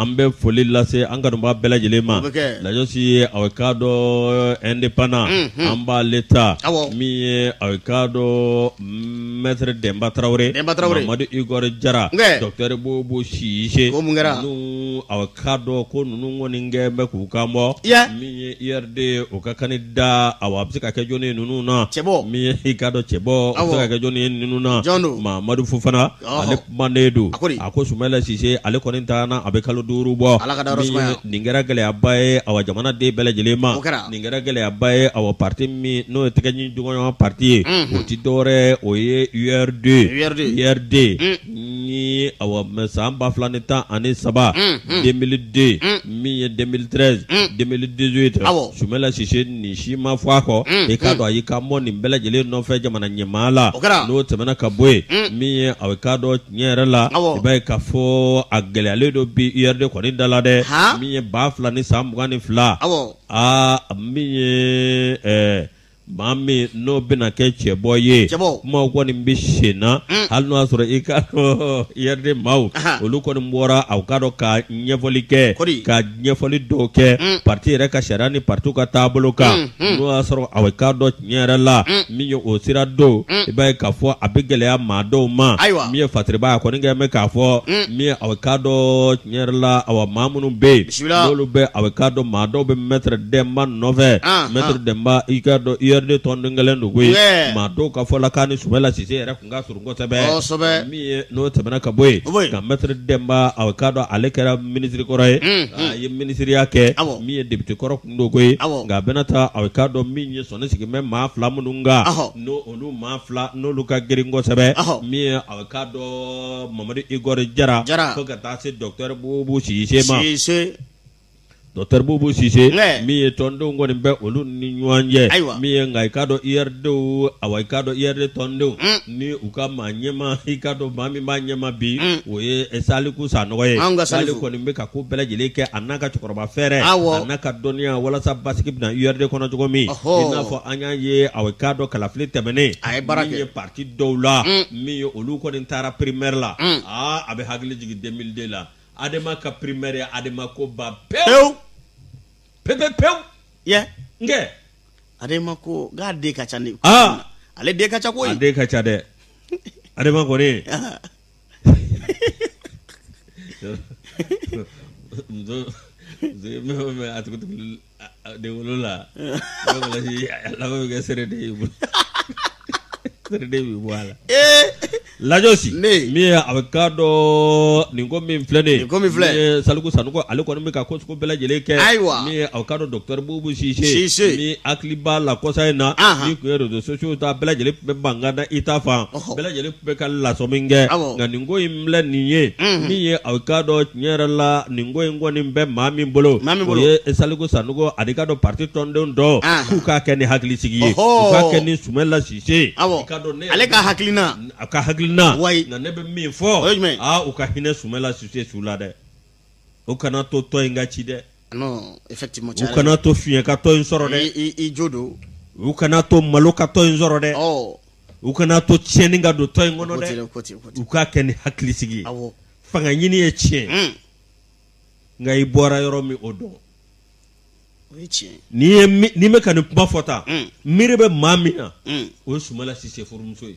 an bɛ foli lase an kanubaa bɛɛ lajɛlen ma lajsi a k'a dɔn indépendant an b'ale ta min ye a k'a dɔn denba tarawele mamadu igɔri jara dɔkɔtɔrɔ bubu sise ninnu a k'a dɔn ko ninnu kɔni kɛn bɛ k'u kan bɔ min ye URD o ka kandida a bɛ se ka kɛ jɔni ye ninnu na min ye i k'a dɔn cɛbɔ a bɛ se ka kɛ jɔni ye ninnu na mamadu fofana manden don a ko di? a ko sumala sise ale kɔni taana a bɛ kalo duuru bɔ Ala k'a da yɔrɔ Min sumaya. ye- nin kɛra gɛlɛyaba ye awa jamana den bɛɛ lajɛlen ma O kɛra. nin kɛra gɛlɛyaba ye awa parti min n'o ye tɛgɛ di ɲɔgɔn ma parti ye Mhm. o ti dɔwɛrɛ o ye urd URD. urd ni awa min ye san ba fila ni tan ani saba Mhm. 2002 min ye 2013 2018 Awɔ. sumala sise nin si ma fɔ a kɔ mm, i k'a mm. dɔn a y'i kanbɔ nin bɛɛ lajɛlen nɔfɛ jamana ɲɛmaa la n'o tɛmɛna ka bɔ yen mm. min ye a bɛ k'a dɔn tiɲɛ yɛrɛ la i b'a ye k'a fɔ a gɛlɛyalen don bi URD kɔni da la dɛ min ye ba fila ni san mugan ni fila aa min ye ɛɛ maa min n'o bɛna kɛ cɛbɔ ye kumaw kɔni bɛ sen na mm. hali n'o y'a sɔrɔ i k'a dɔn URD maaw olu kɔni bɔra aw k'a dɔn ka ɲɛfɔli kɛ ka ɲɛfɔli dɔw kɛ mm. parti yɛrɛ ka sariya ni parti ka taabolo kan mm, mm. n'o y'a sɔrɔ a bɛ k'a dɔn tiɲɛ yɛrɛ la min ye o sira don i b'a ye k'a fɔ a bɛ gɛlɛya maa dɔw ma min ye fasaribaa ye a kɔni kɛlen bɛ k'a fɔ min ye a bɛ k'a dɔn tiɲɛ yɛrɛ la awa maa minnu bɛ yen n'olu bɛ a bɛ k'a dɔn maa dɔw bɛ mɛtɛrɛ dɛnba nɔfɛ ah, mɛtɛrɛ ah. dɛnba i k'a dɔn URD tɔnden kelen don koyi maa dɔw ka fɔ la k'a ni Sumala Sise yɛrɛ tun ka surun n'o tɛmɛna ka bɔ nka mɛtiri dɛnba a k'a dɔn ale kɛra minisiri kɔrɔ ye a ye minisiriya kɛ min ye depite kɔrɔ kun doko ye nka a bɛna taa a k'a dɔn min ye sɔn ne sigi bɛ maa fila minnu kan n' olu maa fila n'olu ka girin kosɛbɛ min a k'a dɔn mamadu igɔri jara fo ka taa se dɔkitɛri bubu sise Dɔkitɛri bubu sise min ye tɔndenw kɔni bɛ olu ni ɲɔgɔn cɛ ayiwa min ye nka i k'a dɔn URD a i k'a dɔn URD tɔndenw ni u ka maa ɲɛma i ka dɔn maa min b'a ɲɛma bi o ye saliku sanɔgɔ ye nka saliku kɔni bɛ ka ko bɛɛ lajɛlen kɛ a n'a ka cɛkɔrɔba fɛɛrɛ aw n'a ka dɔnniya walasa basigi bɛ na URD kɔnɔ cogo min i n'a fɔ an y'a ye a k'a dɔn kalafili tɛmɛnen min ye pati dɔw la min ye olu kɔni taara primɛri la aa a bɛ hakili jigin deux mille deux la adema ka primɛri ye adema ko ban pewu pepe pewu yen kɛ adema ko k'a den ka ca ni ah. ale den ka ca koyi a den ka ca dɛ adema kɔni muso muso ye mɛ a tigi tigi De wolola bɛ kɛ sɛ de ye bolo sɛ bɛ bɔ a la ee lajɔsi ne min a bɛ ka dɔn nin ko min filɛ de kɔmi filɛ saliku sanɔgɔ ale kɔni bɛ ka ko bɛɛ lajɛlen kɛ ayiwa min aw k'a dɔn dɔkitɛri bubu sise n hakili b'a la kɔsa in na min ye rezo sosiyo ta bɛɛ lajɛlen bɛ ban k'a da i ta fan bɛɛ lajɛlen bɛ ka lasɔmini kɛ nka nin ko filɛ nin ye min ye a k'a dɔn tiɲɛ yɛrɛ la nin ko in kɔni bɛ maa min bolo o ye saliku sanɔgɔ a de k'a dɔn pati tɔndenw don k'u k'a kɛ ni hakili sigi ye k'a kɛ ni sumayila sise ale ka hakilina a ka hakilina nka ne bɛ min fɔ u ka hinɛ sumayila sise su la dɛ u kana to tɔn in ka ci dɛ u kana to fiɲɛ ka tɔn in sɔrɔ dɛ u kana to malo ka tɔn in sɔrɔ dɛ u kana to tiɲɛni ka don tɔn in kɔnɔ dɛ u k'a kɛ ni hakili sigi ye fanga ɲini ye tiɲɛ hmm. nka i bɔra yɔrɔ min o dɔn ni n bɛ ka nin kuma fɔ tan hmm. miiri bɛ maa min na hmm. o ye sumayila sise furumuso ye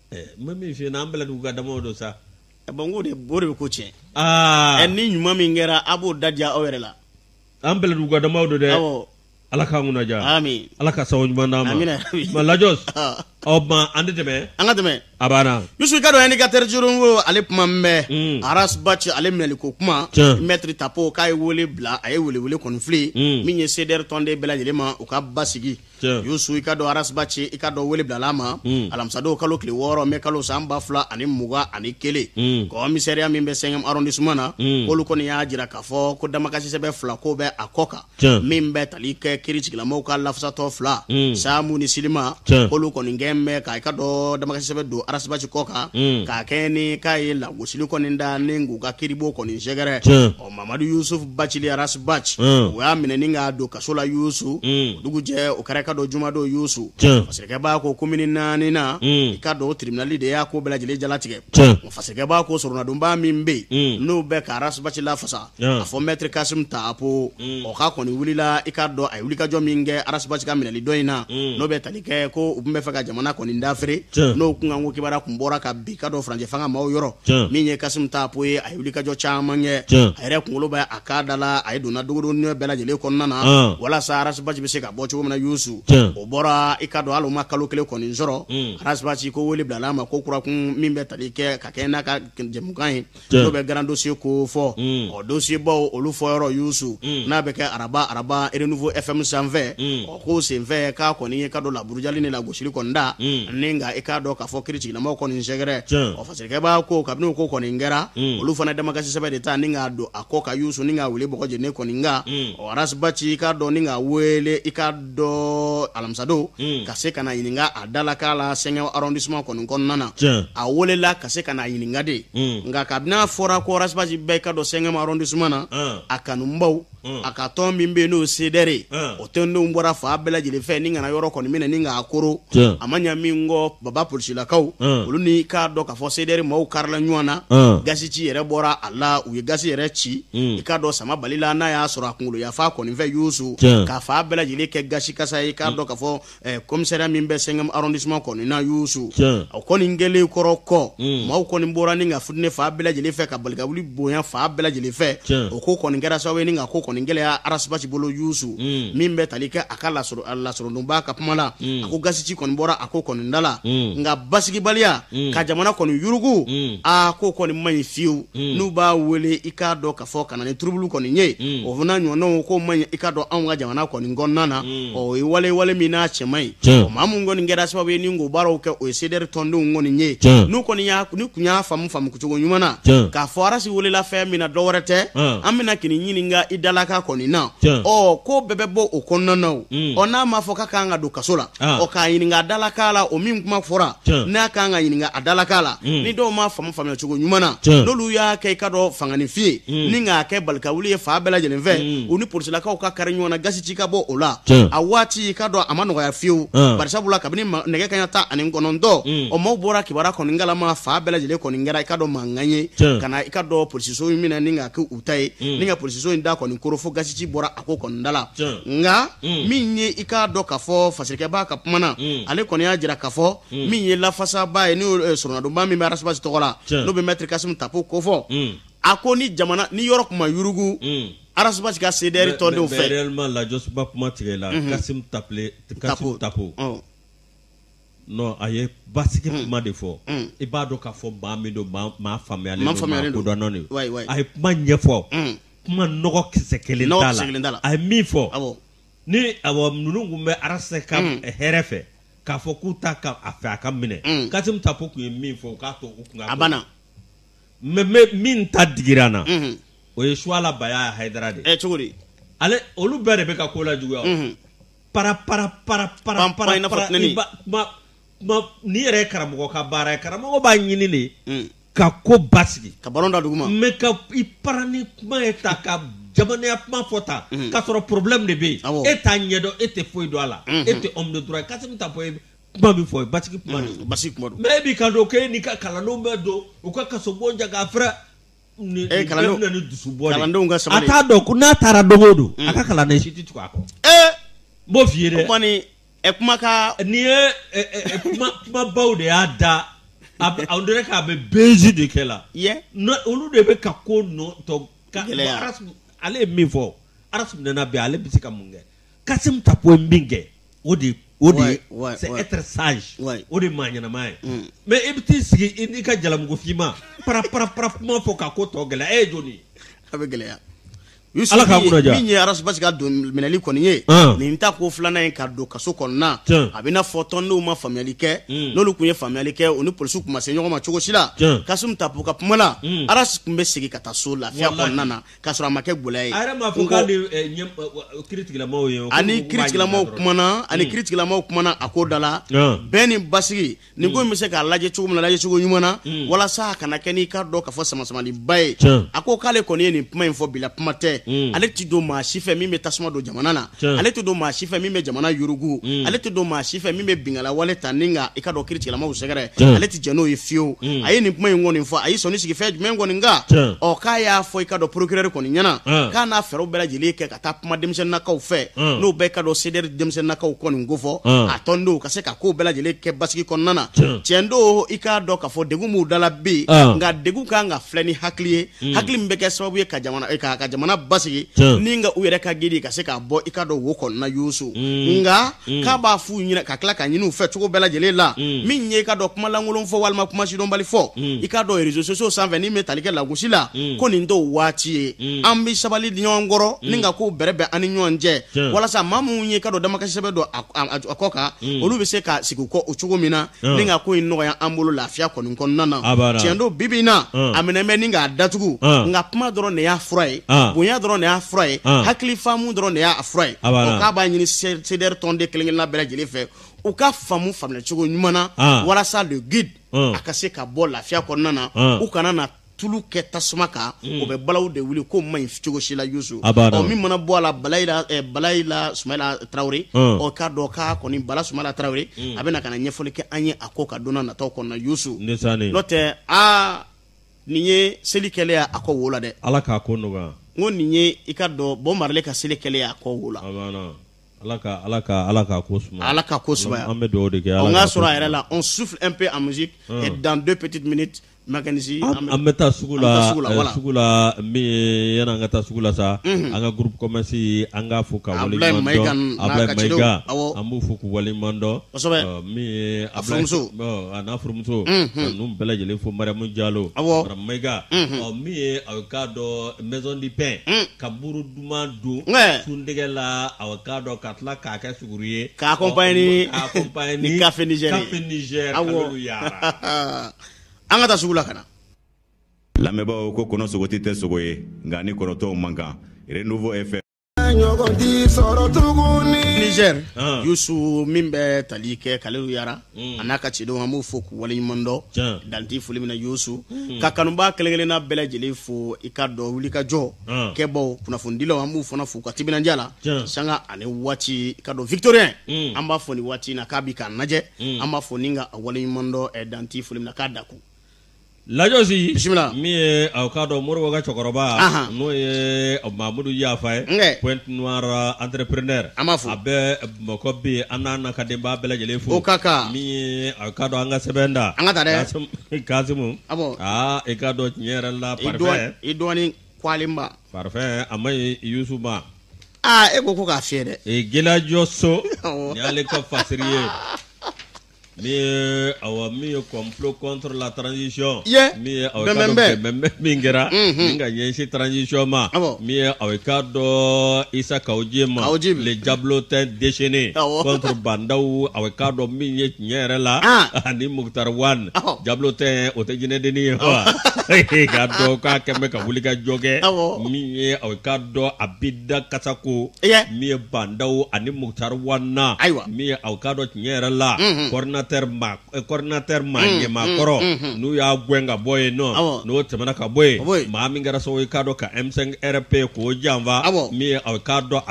Mɛ min fi an bɛɛ dugu ka da don sa a ko de bo de bɛ ko cɛ ɛ ni ɲuman min kɛra a b'o da diya aw yɛrɛ la an bɛɛ dugu ka da don dɛ ala k'an kunna diya ala ka sababu ɲuman d'an ma lajɔsi an tɛ tɛmɛ an ka tɛmɛ a banna misi k'a dɔn ɛndikatɛri ko ale kuma bɛ rasi bati ale minɛli ko kuma mɛtiri tapo k'a ye wele bila a ye wele kɔni filɛ min ye CDR tɔnden bɛɛ lajɛlen ma u ka basigi yusu i k'a dɔn arasibaci i k'a dɔn wele bilala a ma hmm. alamisadon kalo tile wɔɔrɔ mɛ kalo san ba fila ani mugan ani kelen hmm. komisariya min bɛ cinquième arrondissement na hmm. k'olu kɔni y'a jira k'a fɔ ko damakasisɛbɛn fila ko bɛ a kɔ kan min bɛ tali kɛ kiritigɛla maaw ka lafasatɔn fila samu ni silima k'olu kɔni jɛnnen bɛ ka i k'a dɔn damakasisɛbɛn don arasibaci kɔ kan k'a kɛɲɛ ni k'a ye lagosili kɔni da ni k'u ka kiribon kɔni sɛgɛrɛ mamadu yusufu bacili arasi baci Unhun. u y'a minɛ ni k'a don kaso la yusu Mm. o dugujɛ o kɛra i k'a dɔn jumadon yusu Tiɲɛ. fasirikɛba ko komini naani na Mm. i k'a dɔn o tribunali de y'a ko bɛɛ lajɛlen jalatigɛ Tiɲɛ. Wa fasirikɛba ko soronadonba min bɛ yen Mm. n'o bɛ ka arasi baci lafasa Tiɲɛ. a fɔ mɛtiri kasum tapo o k'a kɔni wulila i k'a dɔn a ye wulikajɔ min kɛ arasi baci ka minɛli dɔ in na Mm. n'o bɛ tali kɛ ko u tun b'a fɛ ka jamana kɔni dafiri Tiɲɛ. n'o kunkanko kibaruya tun bɔra ka bɔ i k'a dɔn furancɛ fanga maaw yɔrɔ Tiɲɛ. min ye kasum tapo ye a a ye wulikajɔ caman kɛ a yɛrɛ kunkolo bɛ a ka da la a ye donna dogodogonin bɛɛ lajɛlen kɔnɔna na walasa arasibaci bɛ se ka bɔ cogo min na yusu o bɔra i k'a dɔn hali a ma kalo kelen kɔni sɔrɔ mm. arasibaci ko wele bilala a ma ko kura kun min bɛ tali kɛ ka kɛɲɛ n'a ka jɛmukan ye n'u bɛ grands dossiers ko fɔ mm. ɔ dosiyebaw olu fɔ yɔrɔ yusu mm. n'a bɛ kɛ araba araba Renouveau FM sanfɛ o ko senfɛ k'a kɔni i k'a dɔn laburujali ni lagosili kɔni da ni ka i k'a dɔn k'a fɔ kiritigɛla maaw kɔni sɛgɛrɛ fasirikɛba ko kabini ko kɔni kɛra mm. olu fana damakasisɛbɛn de ta ni k'a don a kɔ kan yusu ni k'a wele bɔgɔ jeni kɔni nka mm. arasibaci i k'a dɔn ni k'a wele i k'a dɔn alamisadon mm. ka se ka na ɲininka a dalakan la cinquième arrondissement kɔni kɔnɔna na a welela ka se ka na ɲininka de nka kabini a fɔra ko arasibaci bɛ i k'a dɔn cinquième arrondissement na a kanubaw Mm. a ka tɔn min bɛ yen n'o sedɛre ye mm. o tɔndenw bɔra fan bɛɛ lajɛlen fɛ ni ka na yɔrɔ kɔni minɛ ni k'a koori a ma ɲa min kɔ baba polisilakaw mm. olu ni k'a dɔn k'a fɔ sedɛre maaw karila ɲɔgɔn na gasiji yɛrɛ bɔra a la u ye gasi yɛrɛ ci i k'a dɔn sama bali la n'a y'a sɔrɔ a kunkolo yanfan kɔni fɛ yusu ka fan bɛɛ lajɛlen kɛ gasi kasa ye i k'a dɔn k'a fɔ ɛ komisariya min bɛ cinquième arrondissement kɔni na yusu Tiɲɛ. o kɔni kɛlen kɔrɔ kɔ Mm. maaw kɔni bɔra ni ka futini fan bɛɛ lajɛlen fɛ ka balikawuli bonya fan bɛɛ lajɛlen fɛ Tiɲɛ. o ko kɔni kɛra sababu ye ni ka ko kɔni gɛlɛya arasibaci bolo yusu Mm. min bɛ tali kɛ a ka lasoro- a lasorodonba ka kuma la Mm. a ko gasiji kɔni bɔra a ko kɔni da la Mm. nka basigibaliya Mm. ka jamana kɔni yurugu Mm. a ko kɔni man ɲi fiyewu Mm. n'u b'a wele i k'a dɔn k'a fɔ ka na ni turubulu kɔni ye mm. o fana ɲɔgɔnnaw ko man ɲi i k'a dɔn anw ka jamana kɔni kɔnɔna na mm. ɔ o ye wale wale min n'a cɛ man ɲi maa min kɔni kɛra sababu ye ni k'o baaraw kɛ o ye sedɛri tɔndenw kɔni ye n'u kɔni y'a n'u tun y'a faamu faamu cogo ɲuman na k'a fɔ arasi welela fɛn min na dɔ wɛrɛ tɛ an bɛ na k'i ɲininka i dalakan kɔni na ɔ ko bɛɛ bɛ bɔ o kɔnɔna na o mm. ɔ n'a m'a fɔ k'a kan ka don kaso la Ah. ɔ k'a ɲininka a dalakan la o min kuma fɔra Tiɲɛ. n'a kan ka ɲininka a dalakan la Mm. ni dɔw m'a faamu faamuya cogo ɲuman na Tiɲɛ. n'olu y'a kɛ i k'a dɔn fanganifin ye Mm. ni k'a kɛ balikawuli ye fan bɛɛ lajɛlen fɛ Mm. u ni polisilakaw ka kari ɲɔgɔn na gazi ci ka bɔ o la Tiɲɛ. a waati i k'a dɔn a ma nɔgɔya fiyewu Ah. barisabula kabini ma- nɛgɛ kaɲa tan ani kɔnɔntɔn Mm. ɔ maaw bɔra kibaruya kɔni kalama fan bɛɛ lajɛlen kɔni kɛra i k'a dɔn mankan ye Tiɲɛ. ka na i k'a dɔn polisiso in minɛ ni k'a kɛ u ta ye Mm. ni ka polisiso in da kɔni koro fo gazi ci bɔra a ko kɔni da la nka min ye i k'a dɔn k'a fɔ fasirikɛba ka kuma na ale kɔni y'a jira k'a fɔ min ye lafasaba ye n eh, sɔrɔnadonba min bɛ arasibasi tɔgɔ la n'o bɛ mɛtiri Kasimu Tapo kofɔ a ko ni jamana ni yɔrɔ kuma yurugu arasibasi ka sedɛri tɔndenw fɛ lajɔsuba kuma tigɛ la Kasimu Tapo Non a ye basigi kuma de fɔ, un, i b'a dɔn k'a fɔ maa min don maa faamuyalen don, maa faamuyalen don, maa kodɔnnen don, wayi, wayi, a ye kuma ɲɛfɔ, un, kuma nɔgɔ kisɛ kelen t'a la, nɔgɔ kisɛ kelen t'a la, a ye min fɔ, awɔ, ni awɔ ninnu tun bɛ Arasi ka hɛrɛ fɛ k'a fɔ k'u t'a fɛ a ka minɛ, un, Kasimu Tapo tun ye min fɔ u k'a to u kun ka ko, a banna, mais mais min ta digira an na, unhun, o ye Suwala Baya Hayidara de ye, ɛ cogo di, ale olu bɛɛ de bɛ ka ko lajuguya o, unhun para para para para Pam, para pam, na para fɔ nani. i ba- ma ma ni yɛrɛ ye karamɔgɔ ka baara ye karamɔgɔ b'a ɲini de Mm. ka ko basigi ka balon da duguma mais ka i para ni kuma ye ta ka jamanaya kuma fɔ ta Mhm. k'a sɔrɔ problème de bɛ yen Awɔ. e t'a ɲɛdɔn e tɛ foyi dɔn a la Mhm. e tɛ homme de droit ye Kasimu Tapo ye kuma min fɔ ye basigi kuma de ye basigi kuma don mais e b'i kan don k'e n'i ka kalandenw bɛ don u ka kasobon ja k'a fɛrɛ Eh, kalandenw- bɛna ni dusu bɔ de. kalandenw ka sabali. a t'a dɔn ko n'a taara don o don a ka kalanden si tɛ tugu a kɔ ne b'o f'i ye o dɛ kuma ni ɛ kuma ka nin ye ɛ, ɛ, ɛ, kuma kumabaw de y'a da a bɛ- on dirait k'a bɛ buzz de kɛ la yɛ Nɔ- olu de bɛ ka ko nɔ tɔ ka gɛlɛya. Arasmu- ale ye min fɔ Arasi minɛna bi ale bɛ se ka mun kɛ Kasimu Tapo ye min kɛ o de o de ye sage o de maa ɲɛnama ye mm. mais e bɛ t'i sigi i n'i ka jalamugu finman para para para kuma fɔ ka ko tɔ gɛlɛya e ye jɔn a bɛ gɛlɛya ala ka min ye arasibasi ka don minɛli kɔni ye ah. nin tako filanan in ka don kaso kɔnɔna a bɛ n'a fɔ tɔndenw ma faamuyali kɛ hmm. n'olu tun ye faamuyali kɛ u ni polisiw tun ma se ɲɔgɔn ma cogo si la Kasimu Tapo ka kuma la hmm. arasi tun bɛ segin ka taa so lafiya kɔnɔna na k'a sɔrɔ a ma kɛ gɛlɛya ye a yɛrɛ m'a fɔ k'a ni eh, ɲɛ- eh, wa- kiritigilamaw ye o, ko- ani ko- ko b'a kiritigilamaw ɲininka dɔrɔn. kumana ani kiritigilamaw kumana a ko da la Ah. bɛn ni basigi nin ko in bɛ se ka lajɛ cogo min na lajɛ cogo ɲuman na walasa a kana kɛ n'i k'a dɔn k'a fɔ samasamaliba ye Tiɲɛ. a ko k'ale kɔni ye nin kuma in fɔ bila kuma tɛ Mm. ale ti don maa si fɛ min bɛ tasuma don jamana na ale tɛ don maa si fɛ min bɛ jamana yurugu mm. ale tɛ don maa si fɛ min bɛ bingala wale ta ni i ka dɔn kiiritigɛlamaw sɛgɛrɛ mm. ale tɛ jɛn n'o ye fiyewu mm. a ye nin kuma in kɔni fɔ a ye sɔnni sigi fɛn jumɛn kɔni kan ɔ k'a y'a fɔ i ka dɔn procureur kɔni ɲɛna k'a n'a fɛɛrɛw bɛɛ lajɛlen kɛ ka taa kuma denmisɛnninakaw fɛ n'o bɛɛ ka dɔn CDR denmisɛnninakaw kɔni ko fɔ a tɔndenw ka se ka ko bɛɛ lajɛlen kɛ basigi kɔnɔna na tiɲɛ don i k'a dɔn k'a fɔ degun b'u dala bi nka degun kan ka filɛ ni hakili ye Mm. hakili min bɛ kɛ sababu ye ka jamana eh, ka ka jamana basigi Tiɲɛ. ni nka u yɛrɛ ka guide ka se ka bɔ i ka dɔn wo kɔnɔna yusu Mm. nka Mm. k'a b'a f'u ɲɛna ka tila k'a ɲini u fɛ cogo bɛɛ lajɛlen la Mm. min ye i ka dɔn kumalankolon fɔ walima kumasidɔnbali fɔ Mm. i ka dɔn réseaux sociaux sanfɛ min bɛ tali kɛ lagosi la Mm. ko nin t'o waati ye Mm. an bɛ sabali di ɲɔgɔn kɔrɔ ni ka kow bɛrɛbɛn an ni ɲɔgɔn cɛ Tiɲɛ. walasa maa minnu ye i ka dɔn damakasi sɛbɛn don a- a a kɔ kan Mm. olu bɛ se ka segin u kɔ o cogo min na Ɔn. ni ka ko in nɔgɔya an bolo lafiya kɔni kɔnɔna na A b'a la. tiɲɛ don bibi in na Ɔn. a minɛ bɛ ni k'a datugu Ɔn. nka kuma dɔrɔn de y'a fura ye Ɔn. bonya dɔrɔn de y'a fura ye Ɔn. hakili faamu dɔrɔn de y'a fura ye A b'a la. Ɔ, k'a b'a ɲini se- CDR tɔnden kelen kelenna bɛɛ lajɛlen fɛ u ka faamu faamuya cogo ɲuman na Ɔn. walasa le guide Ɔn. a ka se ka bɔ lafiya kɔnɔna na Ɔn. u kana na tulu kɛ tasuma kan hmm. o bɛ balaw de wuli ko man ɲi cogo si la yusu ɔ min mana bɔ a la balayi la eh, balayi la sumayila tarawele hmm. ɔ k'a dɔn k'a kɔni bala sumayila tarawele hmm. a bɛna ka na ɲɛfɔli kɛ an ye a ko kan don na nataw kɔnɔna yusu n'o tɛ aa nin ye seli kɛlen y'a a kɔ wo la dɛ ala k'a ko nɔgɔya n ko nin ye i ka dɔn bob marley ka seli kɛlen y'a kɔ wo la ala ka ala ka ala ka ko suma ala ka ko suma an bɛ dugawu de kɛ ala k'a sɔrɔ a yɛrɛ la on souffle un peu en musique et dans deux petites minutes Makanisi an bɛ taa sugu la sugu la min an ka taa sugu la sa an ka gkɔmasi an ka fɔ ka an b'u fɔ k'u waledɔn a furumuso a n'a furumuso n bɛɛ lajɛlen fo mamu jalo maka min ye a k'a dɔnzdi bɛɛ ka muru duman don sun dɛgɛ la a k'a dɔn ka tila k'a kɛ suguri ye k'a ko ba ye ni ba ye ni kafejɛ an ka taa sugu la ka na lamɛnbaaw ko kɔnɔsogoti tɛ sogo ye nka a ni kɔnɔ tɔw man kan renouveau fm ɲɔgɔn tɛ sɔrɔ tuguni niger ah. yusu min bɛ tali kɛ kalilu yara hmm. a n'a ka cidenw an b'u fo k'u waleɲuman dɔn dan tɛ foli min na yusu hmm. ka kanubaa kelen kelenna bɛɛ lajɛlen fo i ka dɔn wuli ka jɔ ah. kɛbaw kunnafonidilaw an b'u fana fo u ka timinandiya la sanga ani waati i ka dɔn victorien mm. an b'a fo nin waati na k'a bi k'an lajɛ mm. an b'a fo ni ka a waleɲuman dɔn eh, dan tɛ foli min na k'a da kun l'agence bisimila min ye aw k'a dɔn moribo ka cɛkɔrɔba n'o ye mamudu yafa ye pointe noire entrepreneur an b'a fo a bɛɛ Mɔgɔ bɛ yen an n'a n'a ka denbaya bɛɛ lajɛlen fo ka ka min a ka dɔn an ka sɛbɛn da an ka taa dɛ Kasimu aa i ka dɔn tiɲɛ yɛrɛ la i dɔgɔnin parfait a ma Yusu ma aa e ko ko k'a fiyɛ dɛ Gelajɔ so y'ale ka fasiri ye Min ye awɔ min ye complot contre la transition i ye min ye awɔ i k'a dɔn bɛnbɛnbɛn. bɛnbɛnbɛn min kɛra Unhun. ni ka ɲɛsin transition ma Awɔ. min ye awɔ i k'a dɔn Isa Kawujim Kawujim. le diablotin déchaîné Awɔ. contre Ba Ndaw awɔ i k'a dɔn min ye tiɲɛ yɛrɛ la Ah. ani Mukutari Wan Awɔ. diablotin o tɛ jinɛdennin ye wa k'a dɔn k'a kɛn bɛ ka wuli ka jɔ kɛ Awɔ. min ye awɔ i k'a dɔn a bi da kasa ko min ye Ba Ndaw ani Mukutari Wan na ayiwa min ye aw ka dɔn tiɲɛ yɛrɛ la coordinateur coordinateur maa ɲɛmaa kɔrɔ n'u y'a gɛn ka bɔ yen nɔ n'o tɛmɛna ka bɔ yen maa min kɛra sababu i k'a dɔn ka M5 RP k'o janfa min ye aw k'a dɔn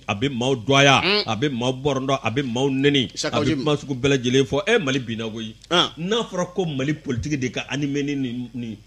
a bɛ maaw dɔgɔya a bɛ maaw bɔrɔndɔ a bɛ maaw nɛni a bɛ kuma sugu bɛɛ lajɛlen fɔ e Mali binna koyi n'a fɔra ko Mali politique de ka ani mɛn ni nin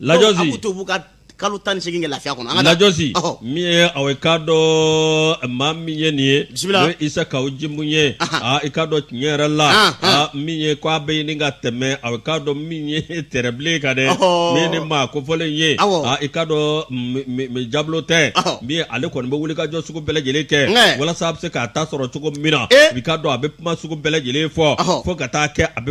lajɔsi a to ka kalo tan ni segin kɛ lafiya kɔnɔ an lajɔsi min ye aw ye k'a dɔn maa min ye nin ye bisimila n'o Isa Kawujim ye aa i k'a dɔn tiɲɛ yɛrɛ la aa min ye ko a bɛ ɲini ka tɛmɛ aw k'a dɔn min ye tɛrɛbilen kan dɛ min ni maa kofɔlen ye aa i k'a dɔn diablotin min ye ale kɔni bɛ wuli ka jɔ sugu bɛɛ lajɛlen kɛ walasa a bɛ se k'a ta sɔrɔ cogo min na i k'a dɔn a bɛ kuma sugu bɛɛ lajɛlen fɔ fo ka taa kɛ a bɛ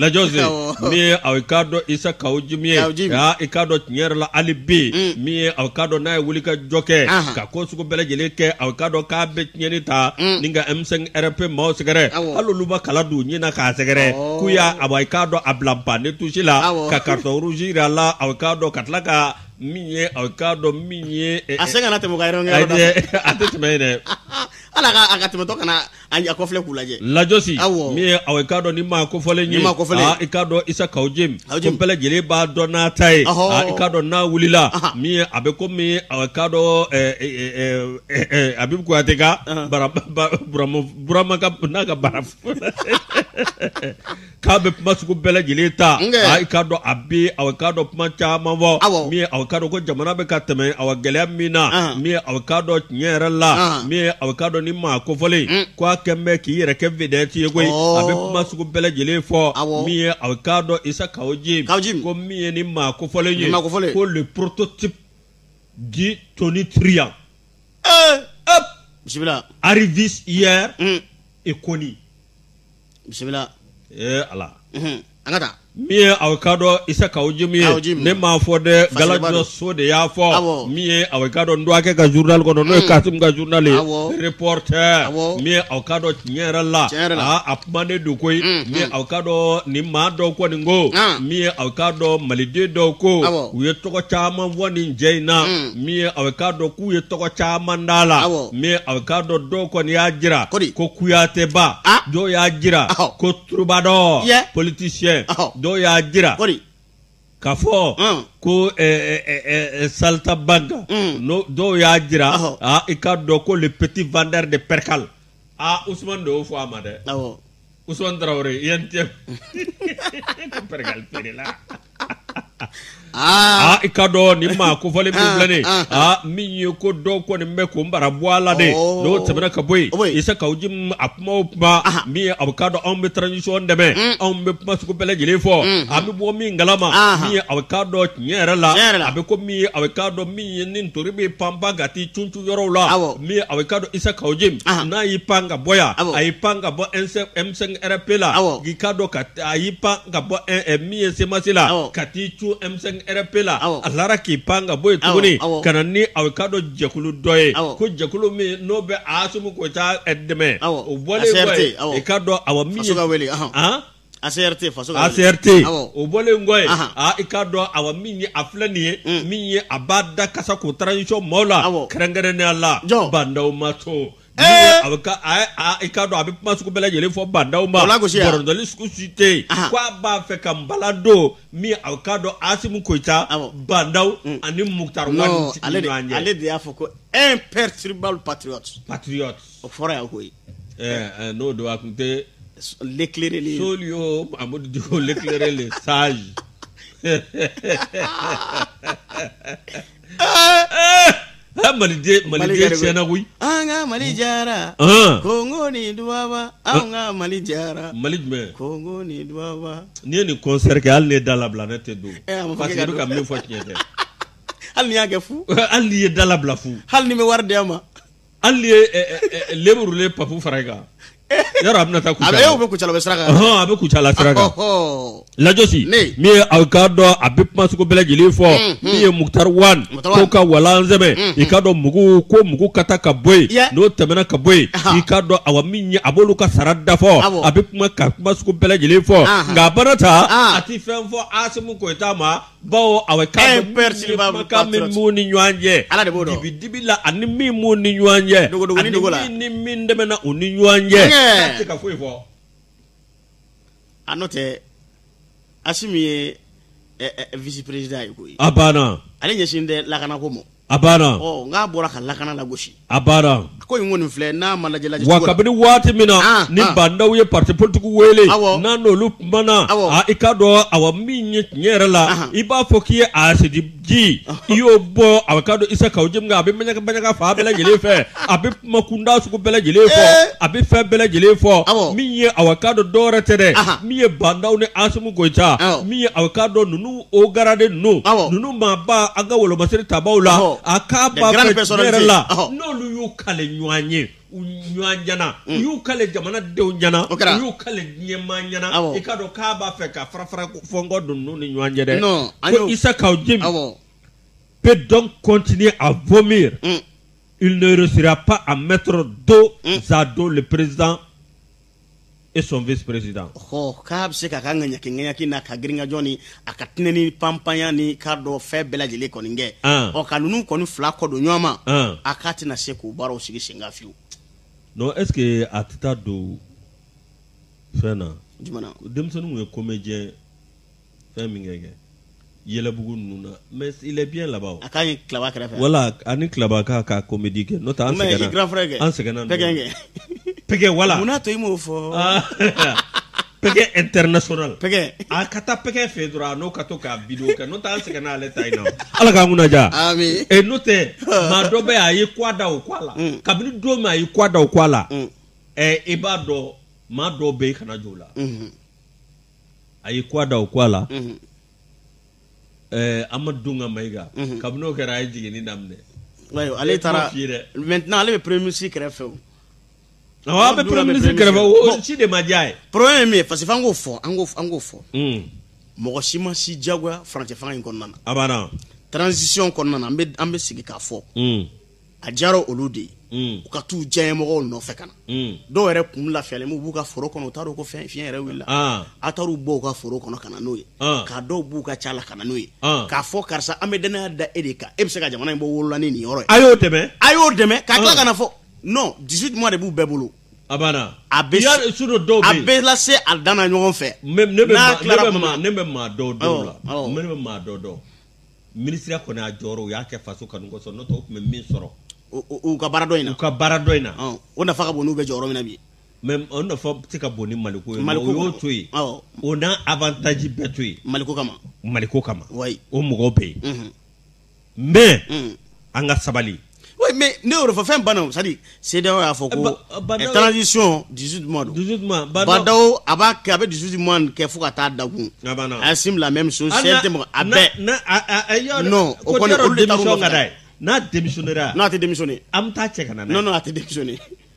lajɔsi min ye aw k'a dɔn Isa Kawujim ye i k'a dɔn tiɲɛ yɛrɛ la ale bɛ mm. min ye aw k'a dɔn n'a ye wuli ka jɔ kɛ ka ko sugu bɛɛ lajɛlen kɛ aw k'a dɔn k'a bɛ tiɲɛni ta mm. ni ka M5 RP maaw sɛgɛrɛ hali olu ma kala don ɲin na k'a sɛgɛrɛ k'u y'a a i k'a dɔn a bila banc de touche la ka carton rouge jira a la aw k'a dɔn ka tila ka min ye aw k'a dɔn min ye a sen kana tɛmɛ ka yɔrɔ a tɛ tɛmɛ yen dɛ ala ka tɛmɛtɔ kana A a kɔfilɛ k'u lajɛ lajɔsi Awɔ. min ye aw ye k'a dɔn ni maa kofɔlen ye Ni maa kofɔlen. aa, i k'a dɔn Isa Kawujim ko Kawujim. bɛɛ lajɛlen b'a dɔn n'a ta ye Ɔhɔ. aa, i k'a dɔn n'a wulila Aha. min ye a bɛ ko min ye aw ye k'a dɔn ɛ, ɛ, ɛ, ɛ, ɛ, Abib Kuyate ka bara ba- Burama Burama ka n'a ka bara k'a bɛ kuma sugu bɛɛ lajɛlen ta i k'a dɔn a bɛ aw k'a dɔn kuma caman fɔ min aw k'a dɔn ko jamana bɛ ka tɛmɛ aw gɛlɛya min na min aw k'a dɔn tiɲɛ yɛrɛ la min aw k'a dɔn ni maa kofɔlen mm. k'a kɛlen bɛ k'i yɛrɛ kɛ vedette ye koyi a bɛ kuma sugu bɛɛ lajɛlen fɔ min ye aw k'a dɔn Isa Kawujim ko min ye ni maa kofɔlen ye ko le prototype du tonitruant eh! bisimila arriviste hier mm. inconnu bisimila ee ala Mhm. an ka taa min ye aw k'a dɔn isa kawu jim Kawu jim. ne m'a fɔ dɛ galajo so de y'a Awɔ. fɔ min ye aw k'a dɔn n dɔgɔkɛ ka journal kɔnɔ n'o ye Mm. kasim ka journal ye Awɔ. reporter Awɔ. min ye aw k'a dɔn tiɲɛ yɛrɛ la Tiɲɛ yɛrɛ la. aa a kumanen don koyi Mm, min ye mm. aw k'a dɔn nin maa dɔw kɔni ko Ah. min ye aw k'a dɔn maliden dɔw ko Awɔ. u ye tɔgɔ caman fɔ nin cɛ in na Mm. min ye a bɛ k'a dɔn k'u ye tɔgɔ caman d'a la min a bɛ k'a dɔn dɔw kɔni y'a jira ko kuyatɛba dɔw y'a jira ko troubadour politicien dɔw y'a jira k'a fɔ ko saltimbanque don dɔw y'a jira i k'a dɔn ko le petit vendeur de percale aa Ousmane de y'o fɔ a ma dɛ Ousmane Traoré yan cɛ bɛ percale feere la ah, ah i k'a dɔn nin maa kofɔlen min filɛ nin ah, ah. ah min ye ko dɔw kɔni bɛ ko n bara bɔ a la dɛ oh. n'o tɛmɛna ka bɔ yen oh, isa kawu jim a kuma o kuma min ye a bɛ k'a dɔn anw bɛ transition dɛmɛ mm. anw bɛ kuma sugu bɛɛ lajɛlen fɔ mm. a bɛ bɔ min kalama min ye a bɛ k'a dɔn tiɲɛ yɛrɛ la a bɛ ko min ye a bɛ k'a dɔn min ye ni ntori bɛ panpan ka t'i cun yɔrɔw la min ye aw k'a dɔn isa kawu jim n'a y'i pan ka bɔ yan a y'i pan ka bɔ M5 RFP la k'i k'a dɔn ka a y'i pan ka bɔ min ye CMAS la ka t'i cun M5 RFP la a lara k'i pan ka bɔ yen tuguni ka na ni aw k'a dɔn jɛkulu dɔ ye ko jɛkulu min n'o bɛ asimu koyita dɛmɛ o bɔlen kɔ ye i k'a dɔn awa min ACRT o bɔlen kɔ ye i k'a dɔn awa min ye a filɛ nin ye min ye a b'a da kasa ko transition maaw la kɛrɛnkɛrɛnnenya la ba ndaw ma to a i k'a dɔn a bɛ kuma sugu bɛɛ lajɛlen fɔ ba ndaw ma bɔrɔtɔli sugu si tɛ yen ko a b'a fɛ ka bala don min a k'a dɔn asimu koyita ba ndaw ani mukutari wan ale de y'a fɔ ko imperturbable patriote o fɔra yan koyi ɛɛ n'o don a tun tɛ l'éclairé soli yo Amadou Diko l'éclairé le sage Ah, maliden maliden tiɲɛna koyi an ka mali jara kongo ni dubaba an ka mali jara mali jumɛn kongo ni dubaba n'i ye nin concert kɛ hali n'i ye da labila ne tɛ don eh, parce que i bɛ ka min fɔ tiɲɛ tɛ hali n'i y'a kɛ fu hali n'i ye da labila fu hali n'i bɛ wari di ma hali n'i ye leburulen papu fara i kan yɔrɔ a bɛna taa kucala a bɛ kucala bɛ sira kan hɔn a bɛ kucala sira kan lajosi min ye aw k'a dɔn a bɛ kuma sugu bɛɛ lajɛlen fɔ min ye mukutari wan ko ka walan sɛbɛ i k'a dɔn mugu ko mugu ka taa ka bɔ yen n'o tɛmɛna ka bɔ yen i k'a dɔn awa min ye a b'olu ka sara da fɔ a bɛ kuma sugu bɛɛ lajɛlen fɔ nka abada a tɛ fɛn fɔ asimu koyita ma bawo a bɛnkan min b'u ni ɲɔgɔn cɛ ala de b'o dɔn dibi dibi la ani min b'u ni ɲɔgɔn cɛ dogodogo ni dogo la ani min ni min tɛmɛna u ni ɲɔgɔn cɛ a tɛ ka foyi fɔ a n'o tɛ asimi ye vice président ye koyi a banna ale ɲɛsin de lakanako ma A banna ɔ n'a bɔra ka lakana lagosi a banna ko in kɔni filɛ n'a ma lajɛlajɛ awa kabini waati min na ah, ni ah. bandaw ye parti politique wele n'a n'olu kumana ah, i k'a dɔn awa min ye tiɲɛ yɛrɛ la i b'a fɔ k'i ye asidi ji i y'o bɔn awa k'a dɔn isa kaw jimi kan a bɛ maɲaka maɲaka fan bɛɛ lajɛlen fɛ a bɛ kuma kuntan sugu bɛɛ lajɛlen fɔ eh. a bɛ fɛn bɛɛ lajɛlen fɔ min ye awa k'a dɔn dɔwɛrɛ tɛ dɛ min ye bandaw ni asimi goyita min ye awa k'a dɔn ninnu hauts gradés ninnu ninnu maaba an ka wolomasiri tabaaw la a k'a ba yɛrɛ la n'olu y'u kale ɲɔgɔn ye u ɲɔgɔn ɲɛna u mm. y'u kale jamana denw ɲɛna u y'u kale diɲɛmaa ɲɛna i k'a dɔn k'a b'a fɛ ka farafara fɔɲɔgɔnkɔ don ninnu ni ɲɔgɔn cɛ dɛ ko isa kaw jimi peut donc continuer à vomir mm. il ne réussira pas à mettre dos mm. à dos le président et son vice président hɔ k'a bɛ se k'a ka ŋaɲakiŋaɲaki n'a ka girinkajɔ ni a ka tinɛnin panpanya n'i k'a dɔn fɛn bɛɛ lajɛlen kɔni kɛ ɔ ka ninnu kɔni fila kɔ don ɲɔgɔn ma a k'a tɛna se k'o baaraw sigi sen kan fiyewu non est ce que a tɛ taa don fɛn na jumɛn na denmisɛnninw ye comédien fɛn min kɛ kɛ yɛlɛbugu ninnu na mais il est bien là-bas o. a ka ɲi klaba kɛrɛfɛ. voilà a ni klaba k'a ka comédie kɛ n'o tɛ an sɛgɛnna. mais grand frère kɛ an sɛgɛnna. pɛgɛn kɛ. pɛgɛn wala. mun n'a to i m'o fɔ. pɛgɛn international. pɛgɛn. a ka taa pɛgɛn fɛ dɔrɔn a n'o ka to k'a video kɛ n'o tɛ an sɛgɛnna ale ta in na ala k'an kunna diya. ami. ee n'o tɛ maa dɔ bɛ a ye kwa da o kwa la. Mm. kabini don min a ye kwa da o kwa la. ɛɛ mm. eh, i b'a dɔn maa dɔw bɛ yen kana jɔ o la. Mm-hmm. a ye kwa da o kwa la amadun ka mayiga kabini n'o kɛra a ye jigin daminɛ ale taara maintenant ale bɛ premier ministre kɛrɛfɛ o a bɛ premier ministre kɛrɛfɛ si de ma diya ye problème ye min ye parce que an k'o fɔ an an k'o fɔ mɔgɔ si ma si jagoya furancɛfanga in kɔnɔna a banna transition kɔnɔna an bɛ sigi k'a fɔ a diyara olu de ye mm. u ka t'u diyaɲɛmɔgɔw nɔfɛ ka na mm. dɔw yɛrɛ kun lafiyalen b'u ka foro kɔnɔ u t'a dɔn ko fɛn fiɲɛ yɛrɛ wulila ah. a taar'u bɔ u ka foro kɔnɔ ka na n'o ye ah. ka dɔw b'u ka ca la ka na n'o ye ah. k'a fɔ karisa an bɛ dannaya da e de kan e bɛ se ka jamana in bɔ bolo la ni nin yɔrɔ ye a y'o dɛmɛ a y'o dɛmɛ k'a tila ka na fɔ non 18 mois de b'u bɛɛ bolo a banna a bɛ sɔrɔ dɔw bɛ yen a bɛ lase a dan na ɲɔgɔn fɛ ne bɛ maa dɔw dɔw la ne bɛ maa dɔw dɔn minisiriya ko n'a jɔyɔrɔ u y'a kɛ faso kanu kosɔn n'o tɛ u tun bɛ min sɔrɔ u ka baara dɔ in na u ka baara dɔ in na o nafa ka bon n'u bɛ jɔyɔrɔ min na bi mɛ o nafa tɛ ka bon ni maliko ye u y'o to yen o n'a abantaji bɛɛ to yen maliko kama maliko kama o mɔgɔw bɛ yen mɛ an ka sabali Oui, mais ne y'o de fɔ fɛn banna o c'est à dire CEDEAO y'a fɔ ko Badaw- transition 18 mois don 18 mois, Badaw- Badaw a b'a kɛ a bɛ 18 mois nin kɛ fo ka taa dakun A banna. Assimi la même chose Hali sɛ na- tɛ mɔgɔ a na- bɛɛ na- a- a- a- yɔrɔ- Non, o ko kɔni, yɔrɔ olu de taar'u démission nɔfɛ. ka d'a ye. n'a démissionnera non a tɛ démissionner an bɛ taa cɛ ka na n'a ye. non non a tɛ démissionner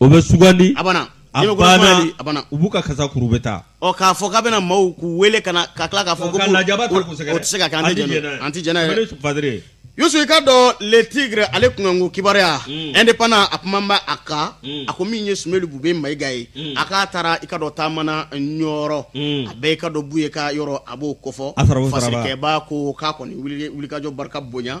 o bɛ sugandi a banna a banna a banna u b'u ka kasa kuru bɛ taa ɔ k'a fɔ k'a bɛna maaw k'u wele ka na ka tila k'a fɔ ko ka lajaba ta k'u sɛgɛrɛ o tɛ se ka kɛ an tɛ jɛn n'a an tɛ jɛn n'a yɛrɛ fadire Yusu i ka dɔn le tigre ale kunkanko kibaruya mm. indépendant a kuma bɛ a kan mm. a ko min ye Sumelu Bube Mayiga ye mm. a k'a taara i ka dɔn taama na Ɲɔrɔ a bɛɛ i ka dɔn Buye ka yɔrɔ a b'o kofɔ fasarikɛbaa ko k'a kɔni wulikajɔ barika bonya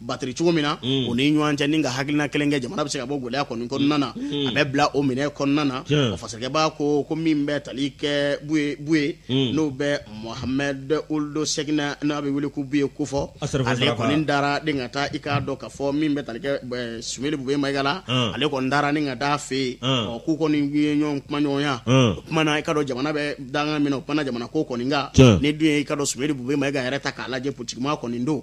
batri cogo min na mm. u ni ɲɔgɔn cɛ ni ka hakilina kelen kɛ jamana bɛ se ka bɔ gɛlɛya kɔni kɔnɔna na mm. a bɛ bila o minɛ kɔnɔna na o fasarikɛbaa ko ko min bɛ tali kɛ buye buye mm. n'o bɛ mohamɛd uldu sɛkina n'a bɛ wele ko buye kofɔ ale kɔni taara ni ka taa i k'a dɔn ka fɔ min bɛ tali kɛ sumelu bube mayiga la ale kɔni taara ni ka taa a fɛ yen ɔ k'u kɔni ye ɲɔgɔn kumaɲɔgɔnya u kumana i ka dɔn jamana bɛ dankan min na u kumana jamana ko kɔni kan n'i dun ye i ka dɔn sumelu bube mayiga yɛrɛ ta k'a lajɛ politikimaa kɔni don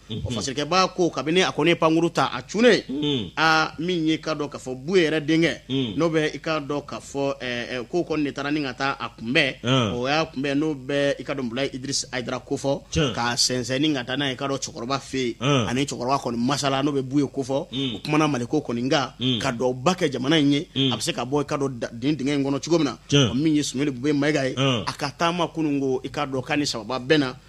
o fasarikɛbaa ko kabini a kɔni ye pankurun ta a cunnen a min y'i ka dɔn ka fɔ buye yɛrɛ denkɛ n'o bɛ i ka dɔn ka fɔ k'o kɔni de taara ni ka taa a kunbɛn o y'a kunbɛn n'o bɛ i ka dɔn mulayi idirisi ayidara kofɔ k'a sɛnsɛn ni ka taa n'a ye i ka dɔn cɛkɔrɔba fɛ yen a ni cɛkɔrɔba kɔni masalala n'o bɛ buye kofɔ u kumana maliko kɔni kan ka duwawu ba kɛ jamana in ye a bɛ se ka bɔ i ka dɔn dingɛ in kɔnɔ cogo min na min ye sumelu bube mayiga ye a ka taama kunun ko i ka dɔn' ni saba bɛɛ na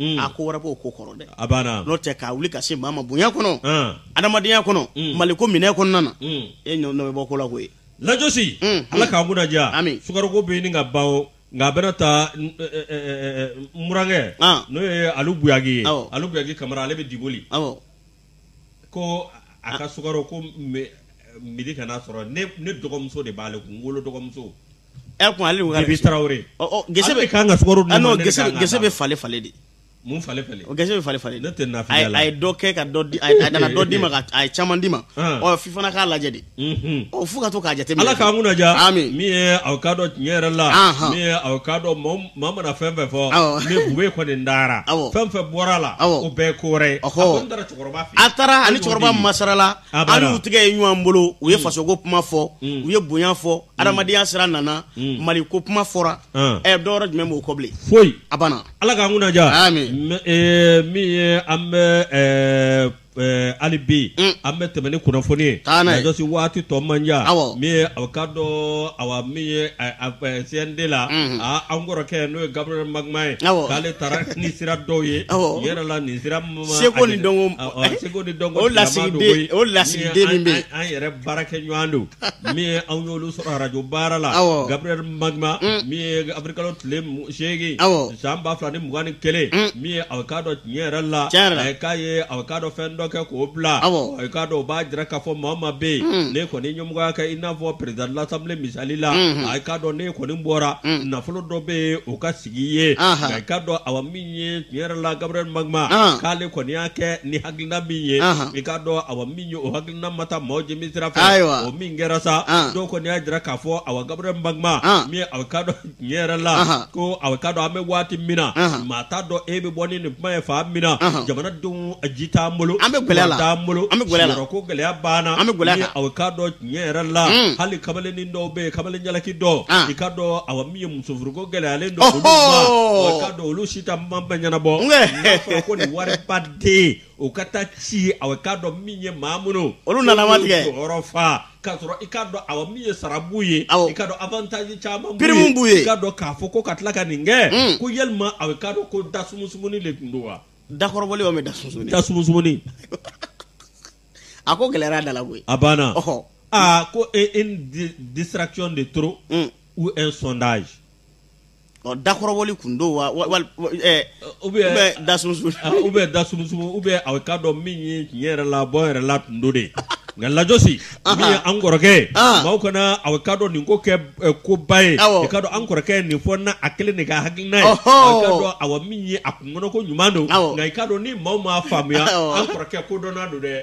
Mm. a ko wɛrɛ b'o ko kɔrɔ dɛ a banna n'o tɛ k'a wuli ka se maa ma bonya kɔnɔ An. adamadenya kɔnɔ Mm. maliko minɛ kɔnɔna na Mm. e ɲɔ nɔ bɛ bɔ ko la koyi lajosi Mm, ala mm. k'an kunnadiya Ami. sukaroko bɛ ɲini ka ban o nka a bɛna taa n- ɛ, ɛ, ɛ, ɛ, ɛ, murankɛ Ah. n'o ye alu buyagi ye Awɔ. alu buyagi kamara ale bɛ diboli awɔ ko a ka sukaro ko mi- midi kana sɔrɔ ne ne dɔgɔmuso de b'ale kun n wolo dɔgɔmuso ɛ kun ale ko Bibi Traoré. ɔ ɔ gese Ale bɛ de kan ka sukaro di ne ah ma, non ne de gese kan ka gese d'a bɛ ma. fale fale de mun fale fale o gese bɛ fale fale de Ne tɛ nafigiya a ye- la. a ye dɔ kɛ ka dɔ di a ye- a nana dɔ di ma ka a ye caman di ma Hum. ɔ f'i fana k'a lajɛ dɛ unhun. ɔ fo ka to k'a jateminɛ ala k'an kunna diya Amin. min ye aw ka dɔn tiɲɛ yɛrɛ la Anhan. min ye aw ka dɔn maa- maa mana fɛn fɛn fɔ Awɔ. ni bube kɔni n dara Awɔ. fɛn fɛn bɔra a la Awɔ. o bɛɛ ye ko wɛrɛ ye a Ɔhɔ. kɔni taara cɛkɔrɔba fɛ yen. a taara ani An y'o cɛkɔrɔba de ye. masarala A bada. an n'u tigɛ ye ɲɔgɔn bolo u ye fasoko kuma fɔ Mm. u ye bonya fɔ adamadenya sira nana Mm. mali ko kuma fɔra An. ɛ dɔwɛrɛ jumɛn b'o kɔ bilen foyi a banna ala k'an kunna diya Amin. M- eh, min ye an bɛ eh, eh, hali bi Mm. an bɛ tɛmɛ ni kunnafoni ye Taa n'a ye. Lajɔsi waati tɔ man jan Awɔ. min ye aw ka dɔn awa min ye eh, a- eh, CNT la Mhm. a- an kɔrɔkɛ n'o ye Gabriel Magma ye Awɔ. k'ale taara ni sira dɔw ye Awɔ. yɛrɛ la nin sira ma Seko a- ni dɔnko- a- a- eh, seko ni dɔnko o tigilama lasigiden- don koyi. o lasigiden min bɛ yen. an an yɛrɛ baarakɛɲɔgɔn don min ye anw y'olu sɔrɔ radio baara la Awɔ. Gabriel Magma min ye Awirilikalo tile mu- Seegin awɔ san ba fila ni mugan ni kelen min ye aw k'a dɔn tiɲɛ yɛrɛ la k'a ye a k'a dɔn fɛn dɔ kɛ k'o bila aw k'a dɔn o b'a jira k'a fɔ maa o maa bɛ yen ne kɔni ɲɛmɔgɔya kɛ i n'a fɔ président de l'Assemblée misali la a k'a dɔn ne kɔni bɔra nafolo dɔ bɛ yen o ka sigi ye i k'a dɔn awa min ye tiɲɛ yɛrɛ la Gabriel Magma k'ale kɔni y'a kɛ ni hakilina min ye i k'a dɔn awa min ye o hakilina ma taa mɔgɔ jimi sira ayiwa o min kɛra sa dɔw kɔni y'a jira k'a fɔ awa Gabriel Magma min ka N yɛrɛ la Ahan. ko aw k'a dɔn an bɛ waati min na Ahan. maa t'a dɔn e bɛ bɔ ni nin kuma ye fan min na Ahan. jamanadenw a ji t'an bolo An bɛ gɛlɛya la. wari t'an bolo An bɛ gɛlɛya la. sigiyɔrɔko gɛlɛya b'an na An bɛ gɛlɛya Ni kan. aw k'a dɔn tiɲɛ yɛrɛ la Mm. hali kamalennin dɔw bɛ yen kamalen jalaki dɔw Ah. i ka dɔn awa min ye musofuruko gɛlɛyalen don olu ma Ɔhɔɔ. ɔ, i ka dɔn olu si ta ma ɲɛnabɔ Nkɛ. n'a fɔra ko nin wariba den o ka taa ci ye aw k'a dɔn min ye maa minnu olu nana matigi jɔyɔrɔ fa k'a sɔrɔ i k'a dɔn awa min ye sara b'u ye i ka dɔn avantaji caman pirimu b'u ye i ka dɔn k'a fɔ ko ka tila ka nin kɛ hmm. ko yalima aw k'a dɔn ko dasumusumuni de tun don wa dakɔrɔbɔli ou bien dasumusumuni dasumusumuni a ko gɛlɛyara da la koyi a banna ɔhɔ aa ko e une distraction de trop hmm. ou un sondage Dakɔrɔbɔli kun don wa ou bien da ou bien dasumusumuni ou bien aw ka dɔn min ye tiɲɛ yɛrɛ la bɔ yɛrɛ la kun don de nka lajɔsi an kɔrɔkɛ maaw kana aw ka dɔn nin ko kɛ koba ye ka an kɔrɔkɛ nin fɔ n a kelen de ka hakilina ye awa min ye a kun kɔnɔ ko ɲuman don nka i ka dɔn ni maaw m'a faamuya an kɔrɔkɛ kodɔnna don dɛ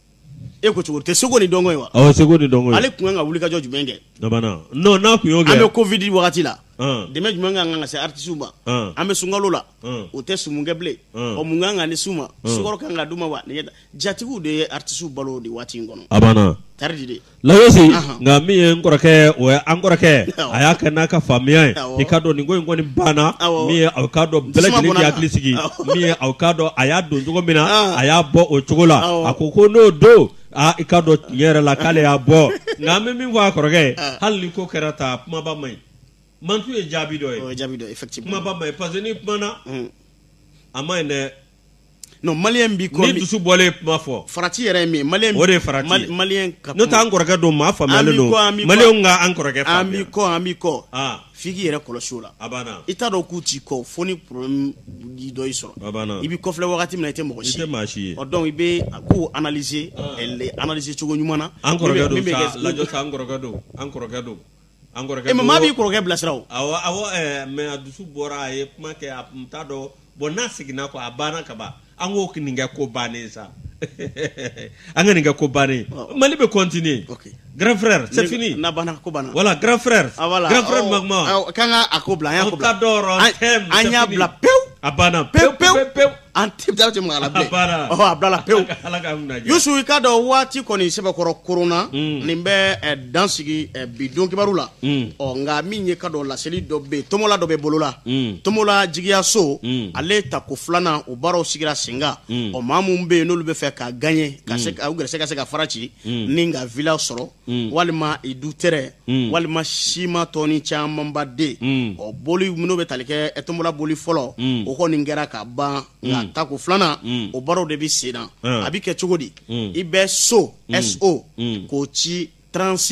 e ko cogo tɛ seko ni dɔnko ye wa awɔ seko ni dɔnko ye ale tun kan ka wulikajɔ jumɛn kɛ dabana non n'a tun y'o kɛ an bɛ covid wagati la dɛmɛ jumɛn ka kan ka se artisiw ma an bɛ sunkalo la o tɛ sumu kɛ bilen ɔ mun kan ka ni s'u ma sukaro kan ka d'u ma wa jatigiw de ye artisiw balo de waati in kɔnɔ a banna tari de Là aussi nka min ye kɔrɔkɛ o an kɔrɔkɛ a y'a kɛ n'a ka faamuya ye i k'a dɔn nin ko in kɔni banna min ye aw k'a dɔn bɛɛ lajɛlen k'i hakili sigi min ye aw k'a dɔn a y'a don cogo min na a y'a bɔ o cogo la a ko ko n'o don aaa i k'a dɔn tiɲɛ yɛrɛ la k'ale y'a bɔ nka an bɛ min fɔ an kɔrɔkɛ hali ni ko kɛra taa kumaba man ɲi mantun ye jaabi dɔ ye jaabi ye parce que n'i kumana a man ɲi dɛ non malien b'i kɔ ni dusu bɔlen kuma fɔ farati yɛrɛ ye min malien o de ye farati mal, malien ka n'o t'an kɔrɔkɛ don maa faamuyalen don malien ka an kɔrɔkɛ faamuya an b'i kɔ an b'i kɔ ah. f'i k'i yɛrɛ kɔlɔsi o la a banna i t'a dɔn k'u t'i kɔ fo ni problème dɔ y'i sɔrɔ a banna i b'i kɔfilɛ wagati min na i tɛ mɔgɔ si i tɛ maa si ye ɔ donc i bɛ a kow analyser ah. analyser cogo ɲuman na an kɔrɔkɛ don sa lajɔ sa an kɔrɔkɛ don an kɔrɔkɛ don An kɔrɔkɛ mais maa b'i kɔrɔkɛ bilasira awɔ mais a dusu bɔra a ye kuma kɛ a tun t'a dɔn bon n'a seginna kɔ a banna ka ban an k'o nin kɛ ko bannen sa an ka nin kɛ ko bannen mali bɛ continuer grand frère c'est fini ko banna voilà grand frère k'an ka a ko bila an y'a bila pewu a banna pewu pewu pewu an tɛ da tɛ mɔgɔ la bilen. A banna. Ɔhɔ, a bilala pewu. Ala ka mun na jɛ. Yusu i k'a dɔn waati kɔni sɛbɛkɔrɔ koronna Mm. nin bɛ eh, dan sigi eh, bi don kibaru la Mm. ɔ nka min ye k'a dɔn laseli dɔ bɛ yen tombola dɔ bɛ bolo la Mm. tombola jigiya so Mm. ale tako filanan o baaraw sigira sen kan Mm. ɔ maa minnu bɛ yen n'olu bɛ fɛ ka gagner ka se ka- u gɛrɛsɛgɛ ka se ka fara ci Mm. ni ka villa sɔrɔ Mm. walima i du terrain Mm. walima siman tɔni camanba dɛ mm. ɔ boli minnu bɛ tali kɛ eh tombola boli fɔlɔ mm. o kɔni kɛra ka ban nka tako filanan o baaraw de bɛ sen na a bɛ kɛ cogo di i bɛ so so k'o ci trente-six